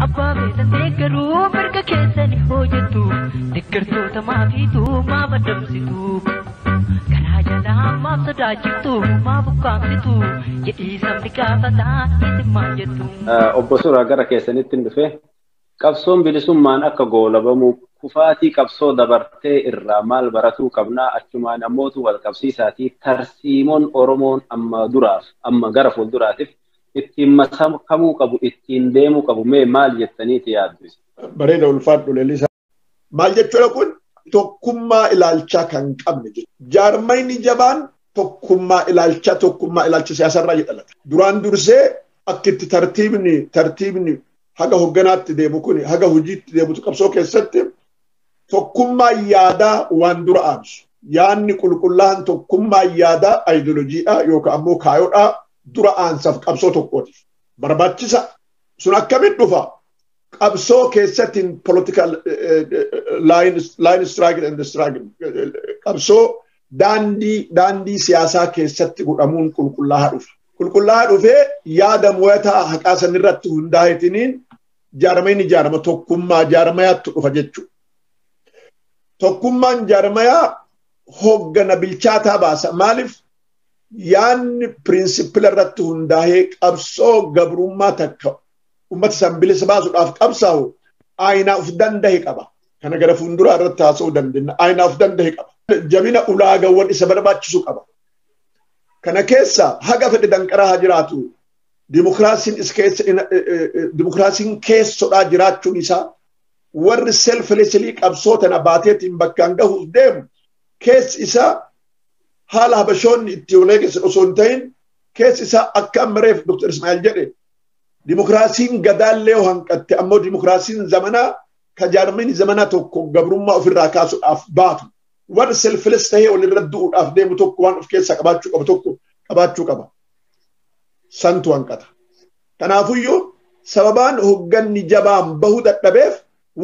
Abbaa feetan deeggaruu mirga keessani hojjettu deeggartoota maafiitu maa maddamsitu garaa jalaa maaf sodaachiftu maa bukkaamsitu jedhii sabni gaafataa isin maal jettu. Obbo Suuraa gara keessanitti hin dhufe. Qabsoon bilisummaan akka goolabamu kufaatii qabsoo dabartee irraa maal baratuu qabna achumaan ammootu wal qabsiisaatii tarsiimoon Oromoon amma duraaf amma gara fuulduraatiif ittiin makamuu qabu ittiin deemuu qabu mee maal jettaniiti yaaddu isa? Bareeda ulfaadhu Lelisaa. Maal jechuudha kun tokkummaa ilaalchaa kan qabne jechuudha. Jaarmayni jabaan tokkummaa ilaalchaa tokkummaa ilaalcha siyaasarraa jedhalata. Duraan dursee akka itti tartiibni tartiibni haga hogganaatti deemu kun haga hojiitti deemutu qabsoo keessatti tokkummaa yaadaa waan dura aansu yaanni qulqullaa'an tokkummaa yaadaa ayidoolojiidhaa yookaan ammoo kaayodhaa dura aansaaf qabsoo tokkootiif barbaachisa sun akkamitti dhufa qabsoo keessatti political line struggle and struggle qabsoo daandii daandii siyaasaa keessatti godhamuun qulqullaa'aa dhufa. Qulqullaa'aa dhufee yaada mo'ataa haqaa sanirratti hundaa'eetiniin jaarmayni ni jaarama tokkummaa jaarmayaattu dhufa jechuudha. Tokkummaan jaarmayaa hoggana bilchaataa baasa. Maaliif yaanni pirinsipila irratti hundaa'ee qabsoo gabrummaa takka uummata san bilisa baasuudhaaf qabsaa'u aayinaa of danda'e qaba. Kana gara fuulduraa irratti haasa'uu dandeenya. Aayinaa of danda'e qaba. Jabina ulaagawwan isa barbaachisu qaba. Kana keessa haga fedhe danqaraa haa jiraatu. dimokiraasiin keessodhaa jiraachuun isaa warri selfilesilii qabsoo tana baateetiin bakkaan gahuuf deemu keessi isaa haala habashoonni itti olee keessan osoo hin ta'in keessi isaa akka amma reef Dr. Ismaa'il jedhe dimokiraasiin gadaallee yoo hanqatte ammoo dimokiraasiin zamanaa ka jaarmini zamanaa tokko gabrummaa ofirraa kaasuudhaaf baatu warri selfiles ta'ee walirra du'uudhaaf deemu tokko waan of keessaa qabaachuu qabu tokko qabaachuu qaba. santu hanqata. Kanaafuyyuu sababaan hogganni jabaan bahu dadhabeef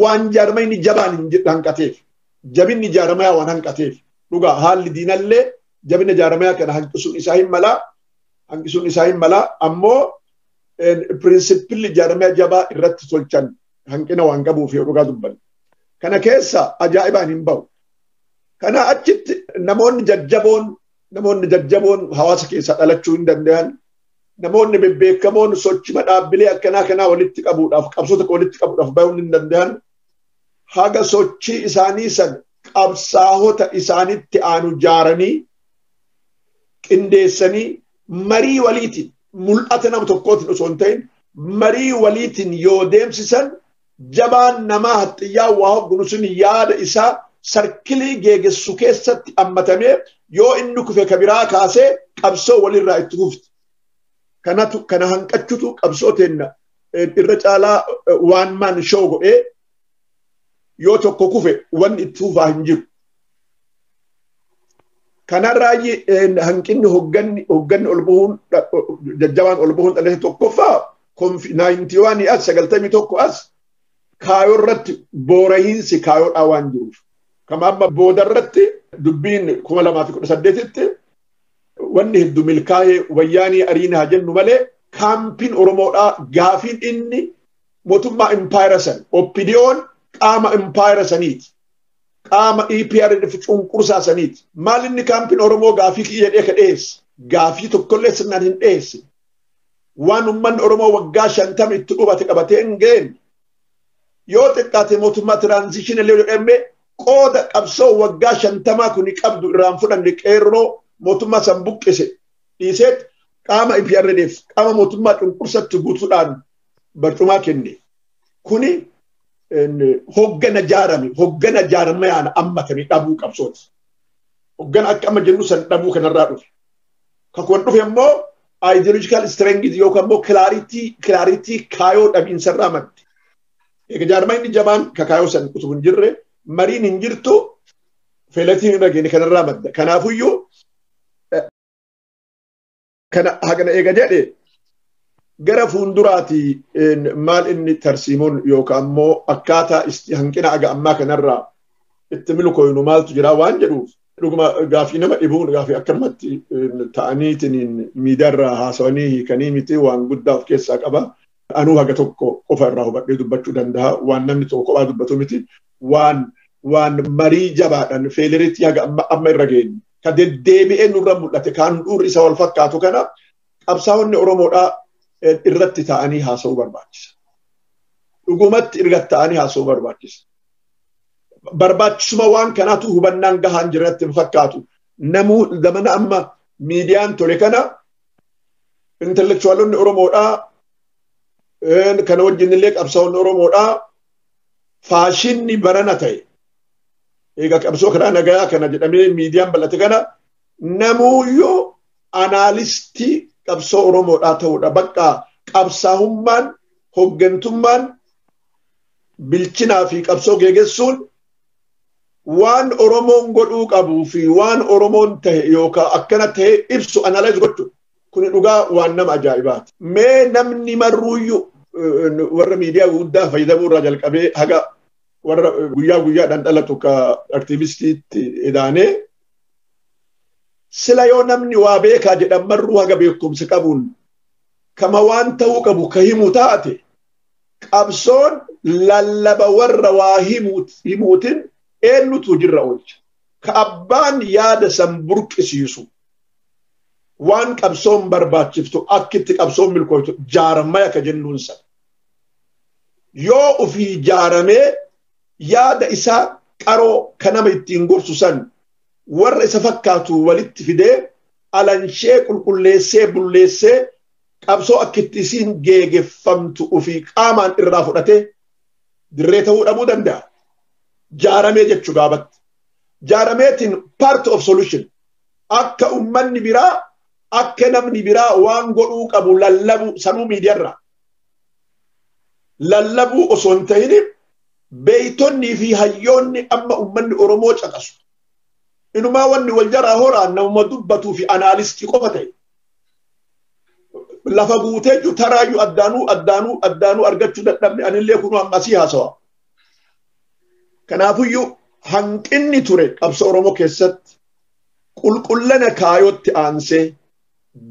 waan jaarmayni jabaan hin hanqateef jabinni jaarmayaa waan hanqateef dhugaa haalli diinallee jabina jaarmayaa kana hanqisuun isaa hin malaa hanqisuun isaa hin malaa ammoo pirinsipilli jaarmaya jabaa irratti tolchan hanqina waan qabuuf yoo dhugaa dubbanne. Kana keessa ajaa'ibaan hin bahu. Kana achitti namoonni jajjaboon namoonni jajjaboon hawaasa keessaa dhalachuu hin danda'an namoonni bebbeekamoon sochima dhaabbilee akkanaa kanaa walitti qabuudhaaf qabsoo tokko walitti qabuudhaaf bahuun hin danda'an haga sochii isaanii san qabsaahota isaanitti aanu jaaranii qindeessanii marii waliitiin mul'ata nama tokkootiin osoo hin ta'in marii waliitiin yoo deemsisan jabaan namaa haxxiyyaa waa hoggunu sun yaada isaa sarkilii geegessu keessatti ammatamee yoo inni kufe ka biraa kaasee qabsoo walirraa itti fufti. Kanatu kana hanqachutu qabsoo teenna irra caalaa waan maan shoo godhee yoo tokko kufe wanni itti fufaa hin jiru. Kanarraayi hanqinni hogganni hogganni ol bahuun jajjabaan ol bahuun dhalate tokkoffaa 91 as 91 as kaayoo irratti boorahiinsi kaayoodhaa waan jiruuf kama amma booda irratti dubbiin 2018tti wanni heddu milkaa'ee wayyaanii ariina haa jennu malee kaampiin Oromoodhaa gaafiin inni mootummaa impaayera san oppidiyoon qaama impaayera saniiti. Qaama EPRDF cunqursaa saniiti. Maal inni kaampiin Oromoo gaafii kiyya jedhee ka dhiyeesse? Gaafii tokkollee sirnaan hin dhiyeesse. waan ummanni Oromoo waggaa shantama itti dhubate qabatee hin geenye yoo xiqqaate mootummaa tiraanzishinii illee jedhame qooda qabsoo waggaa shantamaa kuni qabdu irraan fudhanne qeerroo mootummaa san buqqise dhiiseet qaama IPRDF qaama mootummaa cunqursatti guutuudhaan barcumaa kenne. Kuni hoggana jaarame hoggana jaarmayaan ammatame dhabuu qabsooti. Hoggana akka amma jennu san dhabuu kanarraa dhufe. Kan kun dhufe immoo ideological strength yookaan immoo clarity clarity kaayoo dhabiinsarraa madde. Egaa jaarmaa inni jabaan ka kaayoo san utuu hin jirre mariin hin jirtu feelatiin irra geenye kanarraa madda. Kanaafuyyuu kana hagana eega jedhe gara fuulduraati maal inni tarsiimoon yookaan immoo akkaataa hanqina aga ammaa kanarraa itti milkooynu maaltu jira waan jedhuuf Dhuguma gaafii nama dhibuun gaafii akkanumatti ta'aniitiin miidiyaarraa haasawanii hiikanii miti waan guddaa of keessaa qaba. Anuu haga tokko qofa irraa hubadhee dubbachuu danda'a. Waan namni tokko kophaa dubbatu miti. Waan waan marii jabaadhaan feeliritti haga amma amma irra geenye. Ka deddeebi'ee nurra mul'ate kaan dhuurri isa wal fakkaatu kana qabsaa'onni Oromoodhaa irratti ta'anii haasa'uu barbaachisa. Dhugumatti irratti ta'anii haasa'uu barbaachisa. barbaachisuma waan kanaatu hubannaan gahaan jirratti hin fakkaatu. Namuu zamana amma miidiyaan tole kana intelektuwaalonni Oromoodhaa kana wajjin illee qabsaa'onni Oromoodhaa faashinni barana ta'e. Egaa qabsoo karaa nagaa kana jedhamee miidiyaan bal'ate kana namuuyyuu anaalistii qabsoo Oromoodhaa ta'uudha. Bakka qabsaa'ummaan hoggantummaan bilchinaa fi qabsoo geegessuun waan Oromoon godhuu qabuu fi waan Oromoon tahe yookaan akkana tahe ibsu analyze gochuu kuni dhugaa waan nama ajaa'ibaati. Mee namni marruuyyuu warra miidiyaa guddaa fayyadamuu irraa jalqabee haga warra guyyaa guyyaadhaan dhalatu ka aktiivistiitti edaanee sila yoo namni waa beekaa jedhan marruu haga beekumsa qabuun kama waan ta'uu qabu ka himu taate qabsoon lallaba warra waa himuutiin eenyutu hojiirra oolcha. Ka abbaan yaada san burqisiisu waan qabsoon barbaachiftu akka itti qabsoon milkooytu jaarmaya ka jennuun san. Yoo ofii jaaramee yaada isaa qaroo ka nama ittiin gorsu san warra isa fakkaatu walitti fidee alanshee qulqulleessee bulleessee qabsoo akka itti isiin geegeffamtu ofii qaamaan irraa fudhatee dirree ta'uu dhabuu danda'a. Jaaramee jechuu gaabatti. Jaarameetiin part of solution akka ummanni biraa akka namni biraa waan godhuu qabu lallabuu sanuu miidiyaarraa. Lallabuu osoo hin ta'in beeytonnii fi hayyoonni amma ummanni Oromoo caqasu. Inumaa wanni wal jaraa horaan nama dubbatuu fi anaalistii qofa ta'e. lafa guutee jiru taraayyuu addaanuu addaanuu addaanuu argachuu dadhabne anillee kunuu amma asii haasawa. Kanaafuyyuu hanqinni ture qabsa Oromoo keessatti qulqullina kaayootti aansee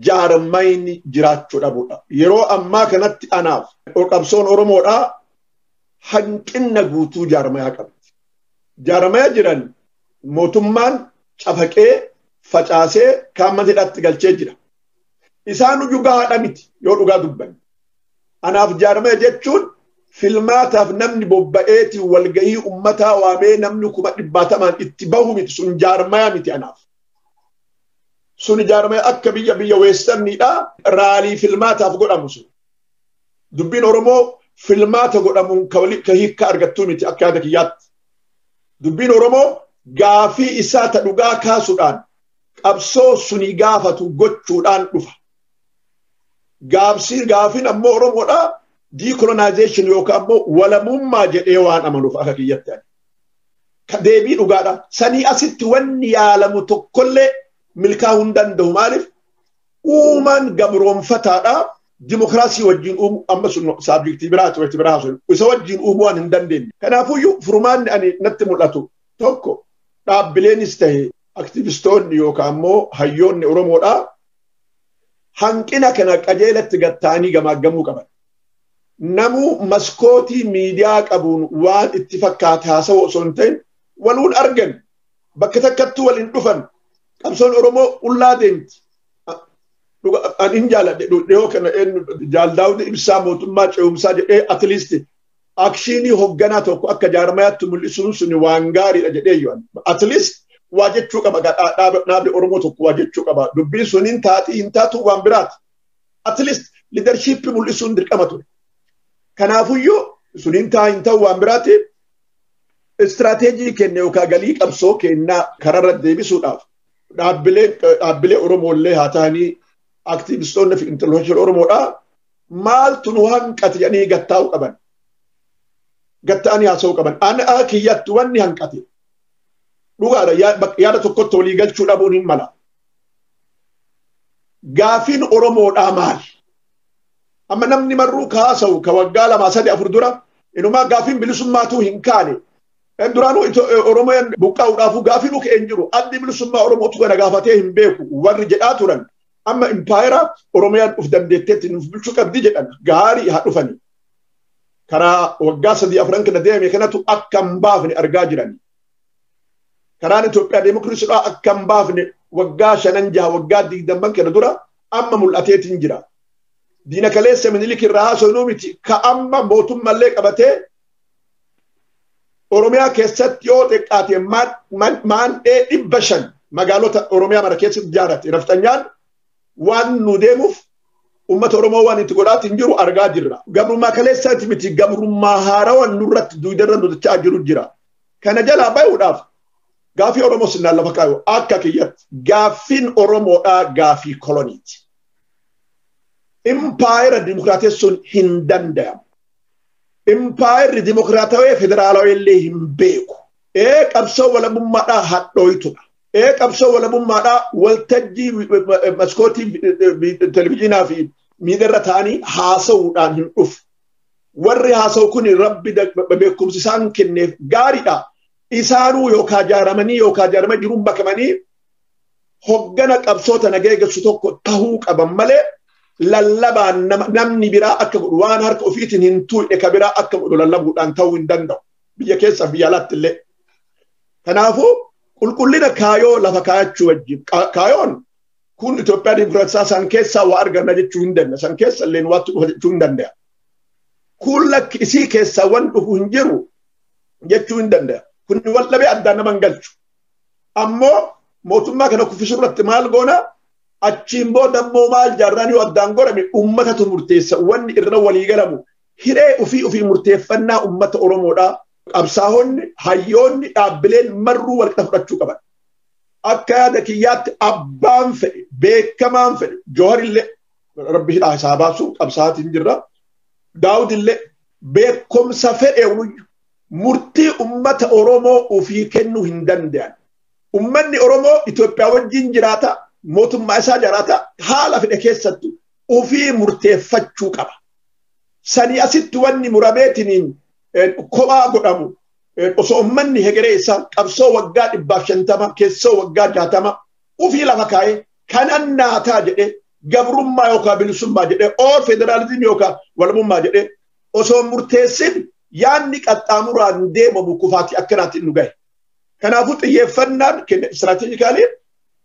jaarmayni jiraachuu dhabudha. Yeroo ammaa kanatti anaaf qabsoon Oromoodhaa hanqinna guutuu jaarmayaa qabdi. Jaarmaya jiran mootummaan cafaqee facaasee kaan mana hidhaatti galchee jira. Isaan iyyuu gahaadha miti yoo dhugaa dubbanne. Anaaf jaarmaya jechuun filmaataaf namni bobba'eeti walgahii ummataa waamee namni kuma dhibbaatamaan itti bahu miti sun jaarmaya miti anaaf. Sun jaarmaya akka biyya biyya weestarniidha raalii filmaataaf godhamu sun. Dubbiin Oromoo filmaata godhamuun ka hiikka argattuu miti akka yaada kiyyaatti. Dubbiin Oromoo gaafii isaa ta dhugaa kaasuudhaan qabsoo sunii gaafatu gochuudhaan dhufa. Gaabsii gaafiin ammoo Oromoodhaa decolonization yookaan ammoo walamummaa jedhee waan amanuuf akka kiyyatti ani. Ka deebii dhugaadha. Sanii asitti wanni yaalamu tokkollee milkaa'uu hin danda'u. Maaliif? uumaan gabroonfataadha dimokiraasii wajjin uumu amma sun saabjektii biraa turetti biraa sun isa wajjin uumu waan hin dandeenye. Kanaafuyyuu furmaanni ani natti mul'atu tokko dhaabbileenis ta'e aktivistoonni yookaan immoo hayyoonni Oromoodhaa hanqina kana qajeelatti gatta'anii gamaaggamuu qaban. Namuu maskootii miidiyaa qabuun waan itti fakkaate haasa'u osoo hin ta'in waluun argan bakka takkattuu waliin dhufan Qabsoon Oromoo qullaa deemti. An hin jaaladhe dhihoo kana jaaldaawni ibsaa mootummaa ce'umsaa jedhee atiliisti akshiinii hogganaa tokko akka jaarmayaatti mul'isuun sun waan gaariidha jedhee yoo atiliist waa jechuu qaba dhaabni Oromoo tokko waa jechuu qaba dubbiin sun hin taati hin taatu waan biraati. Atiliist liidarshiippii mul'isuun dirqama ture. Kanaafuyyuu sun hin taa hin ta'u waan biraati Istiraateejii keenya yookaan galii qabsoo keenyaa kararra deebisuudhaaf dhaabbilee Oromoo illee haa ta'anii aktiivistoonni fi intelektuwaalii Oromoodhaa maaltu nu hanqate jedhanii gattaa'uu qaban. Gatta'anii haasa'uu qaban. Anaa kiyyatti wanni hanqate. Dhugaadha yaada tokkotti walii galchuu dhabuun hin mala. Gaafiin Oromoodhaa maali? Amma namni marruu kaasa'u ka waggaa lamaa sadi afur dura inumaa gaafiin bilisummaatuu hin kaane. Duraanuu Oromoon buqqaa'uudhaafuu gaafii nu ka'e hin jiru. Addi bilisummaa Oromootu kana gaafatee hin beeku warri jedhaa turan. Amma impaayera Oromiyaan of dandeetteetti nuuf bulchuu qabdi jedhan gaarii haa dhufani. Karaa waggaa sadii afran kana deeme kanatu akka hin baafne argaa jirani. Karaan Itoophiyaa deemokiraasiidhaa akka hin baafne waggaa shanan jaha waggaa digdamman kana dura amma mul'ateetiin jira. Diina kaleessa minilik irraa haasofnuu miti ka amma mootummallee qabatee Oromiyaa keessatti yoo xiqqaate maandhee dhibba shan magaalota Oromiyaa mara keessatti ijaarrate nafxanyaan waan nu deemuuf uummata Oromoo waan itti godhaatiin jiru argaa jirra. Gabrummaa kaleessaati miti gabrummaa haarawan nurratti duudarra nutachaa jiru jira. Kana jalaa bayuudhaaf Gaafii Oromoo sinnaan lafa kaayu akka kiyyatti gaaffiin Oromoodhaa gaafii koloniiti. Impaayera dimokiraatessuun hin danda'amu. Impaayerri dimokiraatawee federaalawee illee hin beeku. Ee qabsoo walabummaadhaa hadhooytudha. Ee qabsoo walabummaadhaa waltajjii maskootii televizyiinaa fi miidiyaarra ta'anii haasa'uudhaan hin dhufu. Warri haasa'u kun rabbi beekumsi isaan kenneef gaariidha. isaanuu yookaan jaaramanii yookaan jaarama jiruun makamanii hoggana qabsoo tana geeggessu tokko tahuu qaban malee lallabaan namni biraa akka godhu waan harka ofiitiin hin tuu'e ka biraa akka godhu lallabuudhaan ta'uu hin danda'u. Biyya keessa biyya alaatti illee. Kanaafuu qulqullina kaayoo lafa kaayachuu wajjin kaayoon kun Itoophiyaa Dimokiraatawaa san keessaa waa arganna jechuu hin danda'a. San keessa illee waatti dhufa jechuu hin danda'a. Kun lakki isii keessaa waan dhufu hin jiru. jechuu hin danda'a. Kun wal dhabee addaan nama hin galchu. Ammoo mootummaa kana kuffisuu irratti maal goona? Achiin booda immoo maal jaarraan yoo addaan godhame uummatatu murteessa. Wanni irra walii galamu hiree ofii ofii murteeffannaa uummata Oromoodhaa. Qabsaa'onni, hayyoonni, dhaabbileen marruu wal qixa fudhachuu qaban. Akka yaada kiyyaatti abbaan fedhe, beekamaan fedhe, Jooharillee rabbi hidhaa isaa baasuun qabsaa'aatiin jirra. Daawudillee beekumsa fedheewuyyu murtii ummata Oromoo ofii kennuu hin danda'an. Ummanni Oromoo Itoophiyaa wajjin jiraata, mootummaa isaa jiraata, haala fedhe keessattu ofii murteeffachuu qaba. Sanii asitti wanni murameetiniin kophaa godhamu osoo ummanni hegeree isaa qabsoo waggaa dhibbaaf shantama keessoo waggaa jaatama ofii lafa kaa'ee kanan naataa jedhee gabrummaa yookaan bilisummaa jedhee oo federaalizimii yookaan walabummaa jedhee osoo murteessin yaadni qaxxaamuraan deemamu kufaatii akkanaatti nu gahe. Kanaafuu xiyyeeffannaan keenya istiraatejikaalii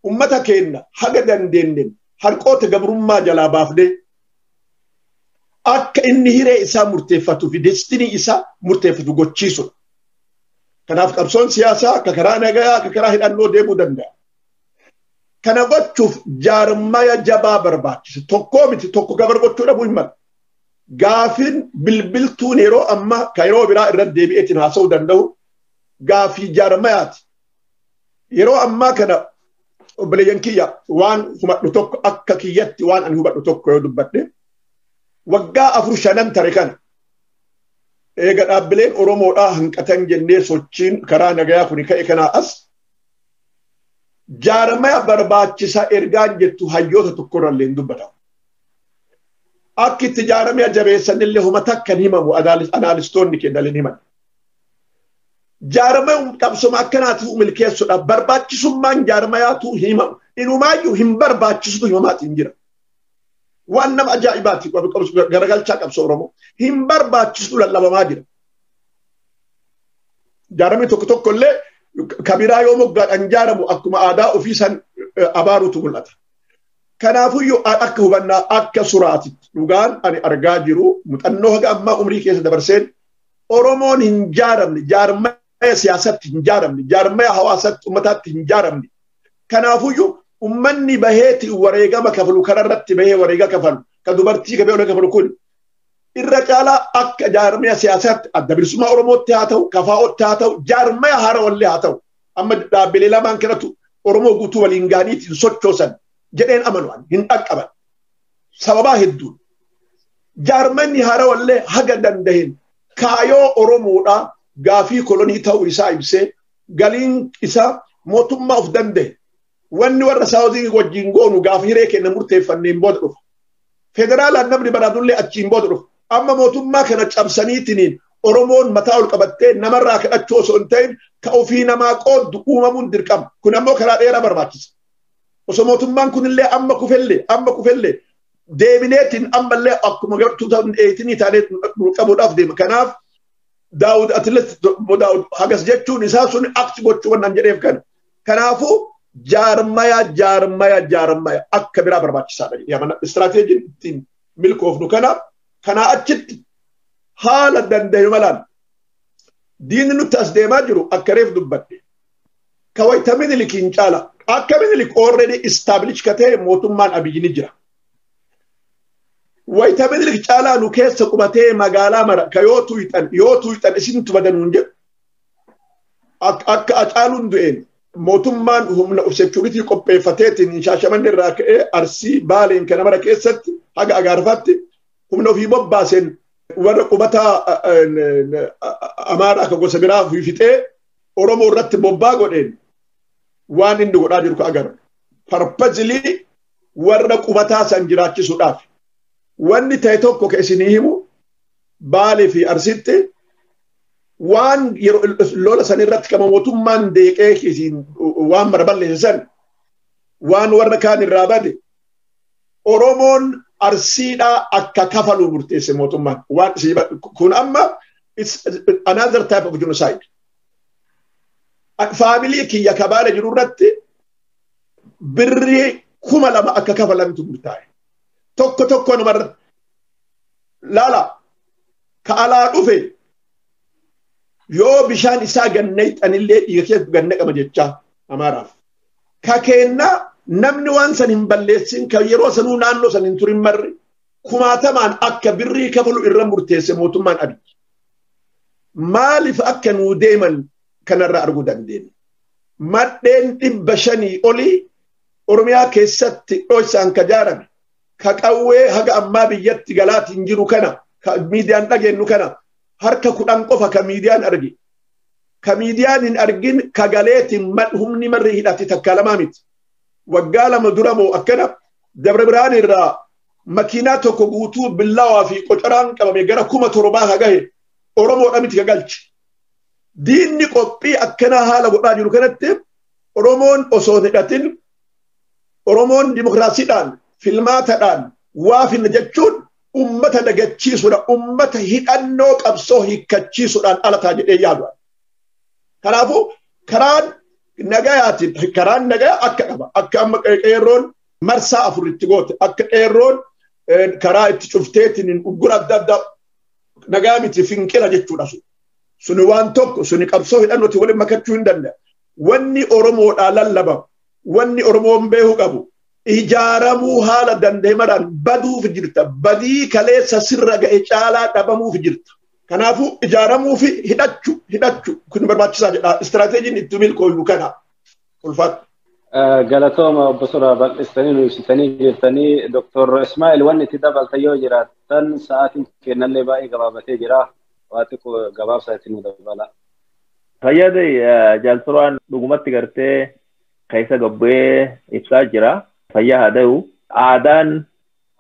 uummata keenya haga dandeenyeen harqoota gabrummaa jalaa baafnee akka inni hiree isaa murteeffatuu fi destinii isaa murteeffatu gochiisudha. Kanaaf qabsoon siyaasaa akka karaa nagayaa akka karaa hidhannoo deemuu danda'a. Kana gochuuf jaarmaya jabaa barbaachisa. Tokkoo miti tokko gabar gochuu dhabuu hin malu. Gaafiin bilbiltuun yeroo ammaa kan yeroo biraa irra deebi'eetiin haasa'uu danda'u gaafii jaarmayaati. Yeroo ammaa kana obboleeyyan kiyya waan hubadhu tokko akka kiyyatti waan ani hubadhu tokko yoo dubbadhe waggaa afur shanan tare kana eega dhaabbileen Oromoodhaa hanqatan jennee sochiin karaa nagayaa kuni ka'e kanaa as Jaarmaya barbaachisa ergaan jettu hayyoota tokkorrallee hin dubbatamu. Akki itti jaarmaya jabeessanillee homa takka hin himamu anaalistoonni keenya hin himan. Jaarmaya qabsoma akkanaatuu milkeessudha. Barbaachisummaan jaarmayaatuu hin himamu. Inumaayyuu hin barbaachisutu himamaatiin jira. Waan nama ajaa'ibaati garagalchaa qabsoo Oromoo. Hin barbaachisutu lallabamaa jira. Jaaramni tokko tokko illee kabiraa yoo moggaadhaan jaaramu akkuma aadaa ofii san abaarutu mul'ata. Kanaafuyyuu akka hubannaa akka suraatitti dhugaan ani argaa jiru muuxannoo haga ammaa umrii keessa dabarseen Oromoon hin jaaramne jaarmaya siyaasatti hin jaaramne jaarmaya hawaasatti ummataatti hin jaaramne. Kanaafuyyuu ummanni baheeti wareegama kafalu kanarratti bahee wareega kafalu ka dubartii ka beela kafalu kun irra caalaa akka jaarmaya siyaasaatti adda bilisummaa Oromootti haa ta'u, kafaa'ootti haa ta'u, jaarmaya haarawallee haa ta'u. Amma dhaabbilee lamaan kanatu Oromoo guutuu waliin ga'aniiti hin sochoosan jedheen amanu'an hin dhaqqaban. Sababaa hedduun. Jaarmanni haarawallee haga danda'een kaayoo Oromoodhaa gaafii kolonii ta'uu isaa ibsee galiin isaa mootummaa of danda'e wanni warra saawuzii wajjin goonu gaafa hiree kenna murteeffanneen booda dhufa. Federaalaan namni baraatullee achiin booda dhufa. Amma mootummaa kana cabsaniitiniin Oromoon mataa ol qabattee namarraa kadhachuu osoo hin ta'in ka ofii namaa qooddu uumamuun dirqama. Kun ammoo karaa dheeraa barbaachisa. Osoo mootummaan kunillee amma kufellee amma kufellee deebineetiin ammallee akkuma gartuu ta'an eeyitinii taanee qabuudhaaf deema. Kanaaf daawud atileet daawud hagas jechuun isaa sun akti gochuu waan jedheef kana. Kanaafuu jaarmaya jaarmaya jaarmaya akka biraa barbaachisaadha jedhee amana. Istiraateejiin ittiin milkoofnu kana kanaa achitti haala danda'e malaan diinni nutti as deemaa jiru akka reef dubbadde. Ka wayita minilikiin caala akka minilik oorreedii istaabilish ka ta'e mootummaan abiyyi ni jira. Wayita minilik caalaa nu keessa qubatee magaalaa mara ka yoo tuuyxan yoo tuuyxan isintu badanuun jedhu akka acaaluun du'een mootummaan humna of seekuritii qopheeffateetiin shaashamanne irraa ka'ee arsii baaleen kana mara keessatti haga agaarfaatti humna ofii bobbaaseen warra qubataa amaaraa akka gosa biraa fixee oromoo irratti bobbaa godheen waan inni godhaa jiru ka agarra. Parpazilii warra qubataa san jiraachisuudhaaf wanni ta'e tokko ka isinii himu baalee fi arsitti waan yeroo lola san irratti kama mootummaan deeqee isiin waan mara balleesse san waan warra kaan irraa bade Oromoon arsiidhaa akka kafalu murteesse mootummaan waan isii kun amma it's another type of genocide. Faamilii kiyya kabaala jiru irratti birrii kuma lama akka kafalantu murtaa'e. Tokko tokko namarra laala ka alaa dhufe yoo bishaan isaa gannayxanillee dhiiga keessa ganna qaba jechaa amaaraaf. Ka keennaa namni waan san hin balleessin kan yeroo sanuu naannoo san hin turin marri kumaatamaan akka birrii kafalu irra murteesse mootummaan Abiy. Maaliif akka nuu deeman kanarraa arguu dandeenya. Madheen dhibba shanii olii Oromiyaa keessatti dhoysaan ka jaarame ka qawwee haga ammaa biyyatti galaatiin jiru kana ka miidiyaan dhageenyu kana harka kudhan qofa ka miidiyaan arge. Ka miidiyaan hin argin ka galeetiin humni marri hidhate takka lamaa miti. Waggaa lama dura moo akkana Dabra Birhaan irraa makiinaa tokko guutuu billawaa fi qocoraan qabame gara kuma torbaa ka gahe Oromoodha miti ka galche. Diinni qophii akkanaa haala godhaa jiru kanatti Oromoon osoo hidhatin Oromoon dimokiraasiidhaan filmaatadhaan waa finna jechuun ummata dagachiisuudha. Ummata hidhannoo qabsoo hiikkachiisuudhaan alataa jedhee yaadu. Kanaafuu karaan nagayaatiin karaan nagaya akka qaba. Akka amma qeerroon marsaa afur itti goote akka qeerroon karaa itti cufteetiin uggura adda addaa nagaa miti finqila jechuudha sun. Suni waan tokko suni qabsoo hidhannootiin waliin makachuu hin danda'u. wanni Oromoodhaa lallabamu, wanni Oromoon beeku qabu ijaaramuu haala danda'e maraan baduuf jirta. Badii kaleessa sirra ga'e caalaa dhabamuuf jirta. Kanaafuu ijaaramuu fi hidhachu hidhachu kun barbaachisaa jedha. Istiraateejiin itti milkooynu kana. Ulfaadhu. Galatooma obbo Suraa bal'istanii nu ibsitanii jirtanii Dr. Ismaa'il wanni itti dabaltan yoo jiraattan sa'aatiin kennallee baay'ee gabaabatee jira. Waa xiqqoo gabaabsaa itti nu dabalaa. Fayyada jaalturaan dhugumatti gartee keessa gabbee ibsaa jira. Fayyaa haa ta'u. Aadaan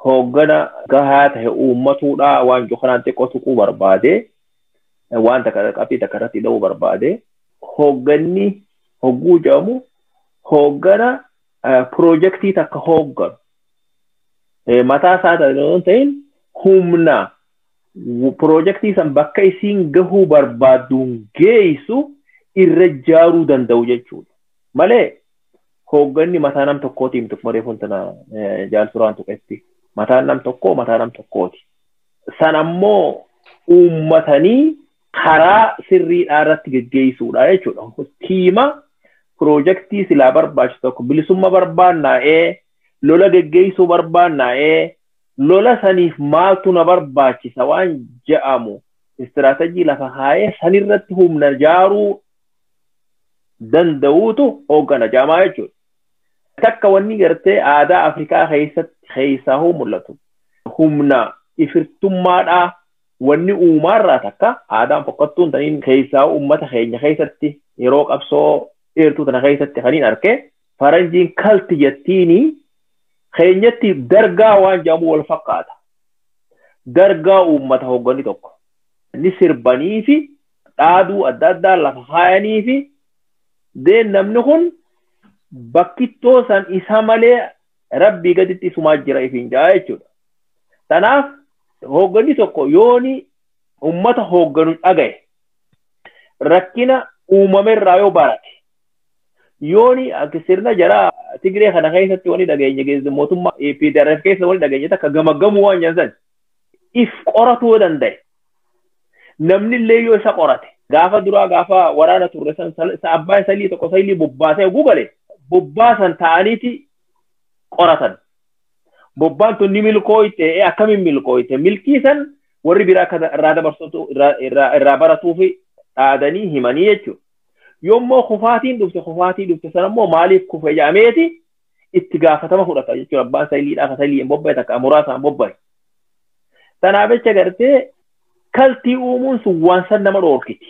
hooggana gahaa ta'e uummatuudhaa waan kanaan xiqqoo tuquu barbaade. Waan takka qabxii takka irratti dha'uu barbaade. Hoogganni hogguu jedhamu hooggana piroojeektii takka hoogganu. Mataa isaa ta'e yoo ta'in humna piroojektii san bakka isiin gahuu barbaadduun geessu irra jaaruu danda'u jechuudha. Malee hoogganni mataa nam tokkootiin tokkuma reefuun tana jaalturaan tuqetti. Mataan nam tokkoo mataa nam tokkooti. San ammoo uummatanii karaa sirriidhaa irratti geggeessuudha jechuudha. Tiima piroojektii silaa barbaachisu tokko bilisummaa barbaannaa'ee lola geggeessuu barbaannaa'ee lola saniif maaltu na barbaachisa waan ja'amu istiraatajii lafa kaa'ee sanirratti humna jaaruu danda'uutu hooggana jaamaa jechuudha. Takka wanni gartee aadaa Afrikaa keessatti keessaa hoo mul'atu humna ifirtummaadhaa wanni uumaarraa takka aadaan fokkattuun taniin keessaa uummata keenya keessatti yeroo qabsoo dheertuu tana keessatti kan hin arke faranjiin kalti jettiini keenyatti dargaa waan jedhamu wal fakkaata. Dargaa uummata hoggani tokko ni sirbanii fi dhaaduu adda addaa lafa kaayanii fi deen namni kun bakkittoo san isa malee rabbii gaditti isumaa jira ifiin ja'a jechuudha. Kanaaf hoogganni tokko yooni uummata hoogganu dhagaye rakkina uumamerraa yoo barate Yooni akka sirna jara Tigree kana keessatti wani dhageenye keessa mootummaa APDRF keessa wani dhageenye takka gamaggamuu waan jedhan san if qoratuu yoo danda'e namni illee yoo isa qorate gaafa duraa gaafa waraana turre san sal- sa- abbaan salii tokko salii bobbaasee oguu gale bobbaasan ta'aniiti qoratan. Bobbaan tun ni milkooyte ee akkamiin milkooyte milkii san warri biraa akka irraa dabarsutu irraa irraa irraa baratuufi dhaadanii himanii jechuudha. Yommuu kufaatiin dhufte kufaatii dhufte sana immoo maaliif kufe jedhameeti itti gaafatama fudhata jechuudha. Abbaan sayiliidhaa kan sayiliin bobba'e takka muraasaan bobba'e. Kanaaf jecha gartee kaltii uumuun sun waan san nama dhoorkiti.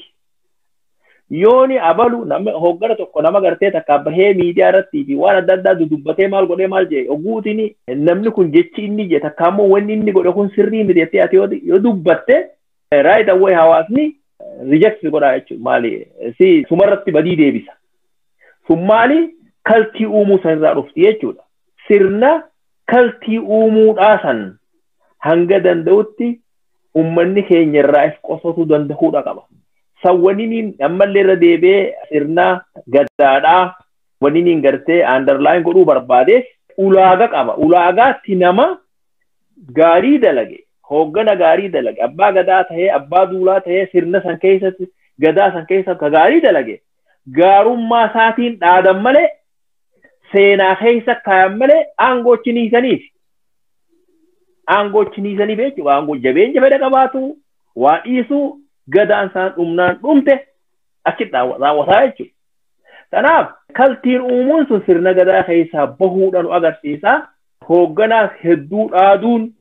Yooni abalu nama hoggana tokko nama gartee takka bahee miidiyaa irratti fi waan adda addaa dudubbatee maal godhee maal jedhe ogguutiin namni kun jechi inni jedhe takka ammoo wanni inni godhe kun sirrii miti jettee ati yoo dubbatte Right away hawaasni reject godhaa jechuudha. Maali? Si sumarratti badii deebisa. Sun maali? Kaltii uumuu sanirraa dhufti jechuudha. Sirna kaltii uumuudhaa san hanga danda'utti ummanni keenya irraa if qosatu danda'uudha qaba. San waniniin ammallee irra deebi'ee sirna gadaadhaa waniniin gartee underline godhuu barbaadeef ulaaga qaba. Ulaagaatti nama gaarii dalage hooggana gaarii dalage abbaa gadaa ta'ee abbaa duulaa ta'ee sirna san keessatti gadaa san keessa ka gaarii dalage gaarummaa isaatiin dhaadan malee seenaa keessa kaayan malee aangoo chiniisaniif aangoo chiniisaniif jechuudha aangoo jabeenya fedha qabaatu waa dhiisuu gadaan isaan dhumnaan dhumte achi raawwataa jechuudha. Kanaaf kaltiin uumuun sun sirna gadaa keessaa bahuudhaan agarsiisa. Hoogganaas hedduu dhaaduun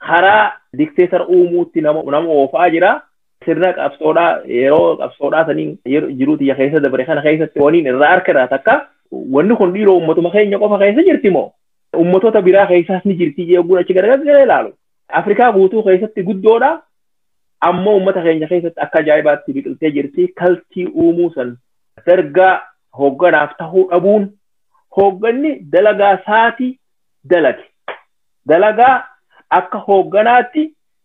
karaa dikteetar uumuutti nama nama oofaa jira. Sirna qabsoodhaa yeroo qabsoodhaa saniin yeroo jiruu tiyya keessa dabre kana keessatti waniin irraa harka irraa takka wanni kun dhiiroo uummatuma keenya qofa keessa jirti moo uummatoota biraa keessaas ni jirti jechuun achi garagalee ilaalu. Afrikaa guutuu keessatti guddoodha. Ammoo uummata keenya keessatti akka ajaa'ibaatti biqiltee jirti. Kaltii uumuu san dargaa hoogganaaf tahuu dhabuun hoogganni dalagaa saatii dalage. Dalagaa akka hoogganaatti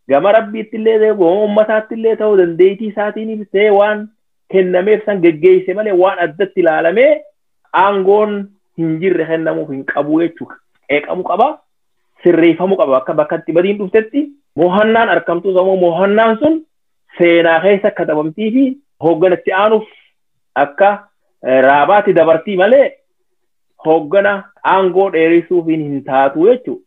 gama rabbiitti illee ta'e gama ummataatti illee ta'u dandeettii isaatiin ta'e waan kennameef san geggeesse malee waan addatti ilaalamee aangoon hin jirre kennamuuf hin qabu jechuudha. Qeeqamu qaba, sirreeffamu qaba akka bakka itti badiin dhuftetti mohannaan arkamtu sammuu mohannaan sun seenaa keessa katabamtii fi hoogganatti aanuuf akka raabaatti dabartii malee hooggana aangoo dheerisuuf hin taatu jechuudha.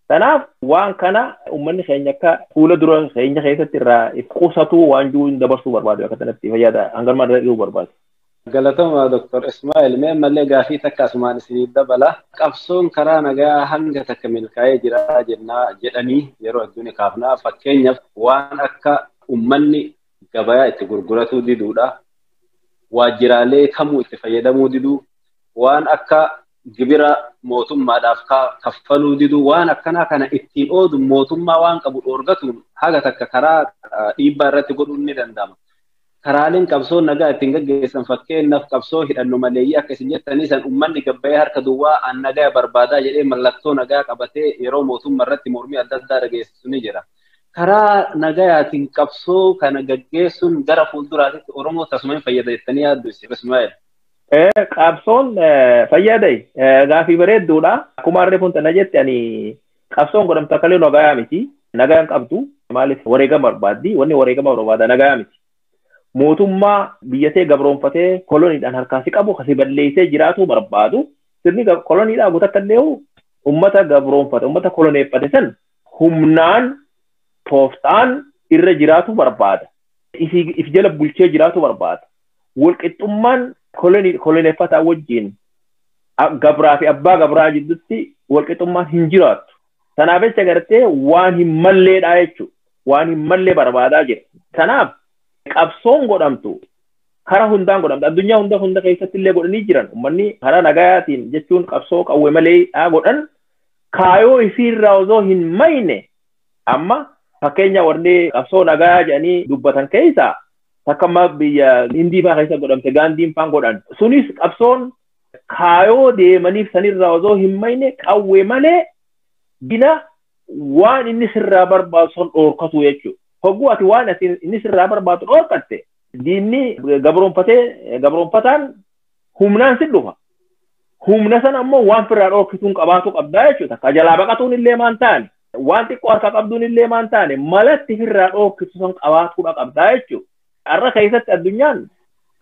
Kanaaf waan kana uummanni keenya akka fuula dura keenya keessatti irraa if qusatu waan jiru hin dabarsuu barbaadu akka kanatti fayyada hangarma irra dhiyuu barbaadu. Galatoomaa Dr. Ismaa'il mee ammallee gaafii takka asumaan isiniif dabala. Qabsoon karaa nagaa hanga takka milkaa'ee jira jennaa jedhanii yeroo hedduun kaafna. Fakkeenyaaf waan akka uummanni gabayaa itti gurguratuu diduudha. Waajjiraalee kamuu itti fayyadamuu diduu waan akka gibira mootummaadhaaf kaffaluu diduu waan akkanaa kana ittiin oodu mootummaa waan qabu dhoorgatuun haga takka karaa dhiibbaa irratti godhuun ni danda'ama. Karaaleen qabsoon nagaa ittiin gaggeessan fakkeenyaaf qabsoo hidhanno maleeyyii akka isin jettanii san uummanni gabbayee harka duwwaa an nagaa barbaadaa jedhee mallattoo nagaa qabatee yeroo mootummaa irratti mormii adda addaa dhageessisu ni jira. karaa nagayaatiin qabsoo kana gaggeessuun gara fuulduraatitti Oromoo tasuma hin fayyada jettanii yaaddu Sheekh Ismaa'eel? Qabsoon fayyada gaafii bareedduudha. Akkuma harree kun tana jette ani qabsoon godhamtu akka illee nagayaa miti. Nagaa hin qabdu. Maaliif wareegama barbaaddi? Wanni wareegama barbaada nagayaa miti. Mootummaa biyyatee gabroonfatee koloniidhaan harkaa si qabu kasi balleessee jiraatu barbaadu. Sirni koloniidhaa guutakka illee uummata gabroonfate uummata koloneeffate san humnaan tooftaan irra jiraatu barbaada. If jala bulchee jiraatu barbaada. Walqixxummaan koloneeffataa wajjin gabraa fi abbaa gabraa jidduutti walqixxummaan hin jiraattu. Kanaaf jecha gartee waan hin malleedhaa jechuudha. Waan hin mallee barbaadaa jira. Kanaaf qabsoon godhamtu kara hundaan godhamtu. Addunyaa hunda hunda keessatti illee godhanii jiran. Uummanni karaa nagayaatiin jechuun qabsoo qawwe maleedhaa godhan kaayoo ifiirraa osoo hin mayne amma fakkeenya warri qabsoo nagaa jedhanii dubbatan keessa takka amma biyya hindii faa keessa godhamte gaandiin faan godhan sunis qabsoon kaayoo deemaniif sanirraa osoo hin mayne qawwe malee dina waan inni sirraa barbaadu san dhoorkatu jechuudha. Hogguu ati waan inni sirraa barbaadu dhoorkatte diinni gabroonfatee gabroonfataan humnaan si dhufa. Humna sana ammoo waan firraa dhoorkituun qabaatu qabdaa jechuudha. Ka jalaa baqatuun illee maan taane waan xiqqoo harka qabduun illee maan taane malatti firraa dhoorkitu san qabaatuudha qabdaa jechuudha. Har'a keessatti addunyaan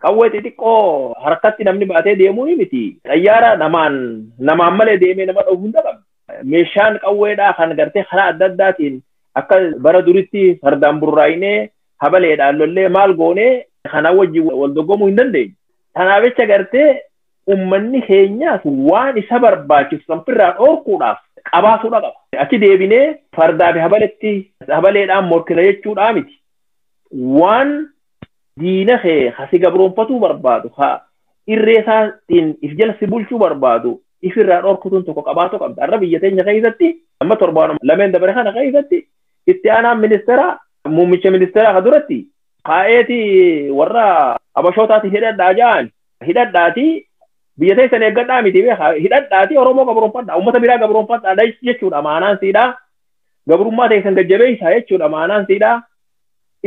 qawwee xixiqqoo harkatti namni baatee deemuu ni miti. Xayyaara namaan namaan malee deemee nama dhoofu hunda qabdi. Meeshaan qawweedhaa kan gartee karaa adda addaatiin akka bara duritti fardaan burraa'inee habaleedhaan lollee maal goonee kanaa wajjin wal dorgomuu hin dandeenye. Kanaaf jecha gartee ummanni keenyaas waan isa barbaachisu kan firraa dhoorkuudhaaf qabaatuudha qaba. Achi deebinee fardaa fi habaletti habaleedhaan morkina jechuudhaa miti. Waan diina kee ha si gabroonfatuu barbaadu ha irree isaatiin if jala si bulchuu barbaadu ifirraa dhoorkutuun tokko qabaatu qabda. Har'a biyya teenya keessatti amma torbaan lameen dabare kana keessatti itti aanaan ministeeraa muummicha ministeeraa ka duratti kaa'eeti warra abashootaati hidhadhaa ja'an hidhadhaati biyya teessan eeggadhaa miti beekaa hidhadhaati oromoo gabroonfadhaa uummata biraa gabroonfadhaa jechuudha maanaan siidhaa gabrummaa teessan gajjabeessaa jechuudha maanaan siidhaa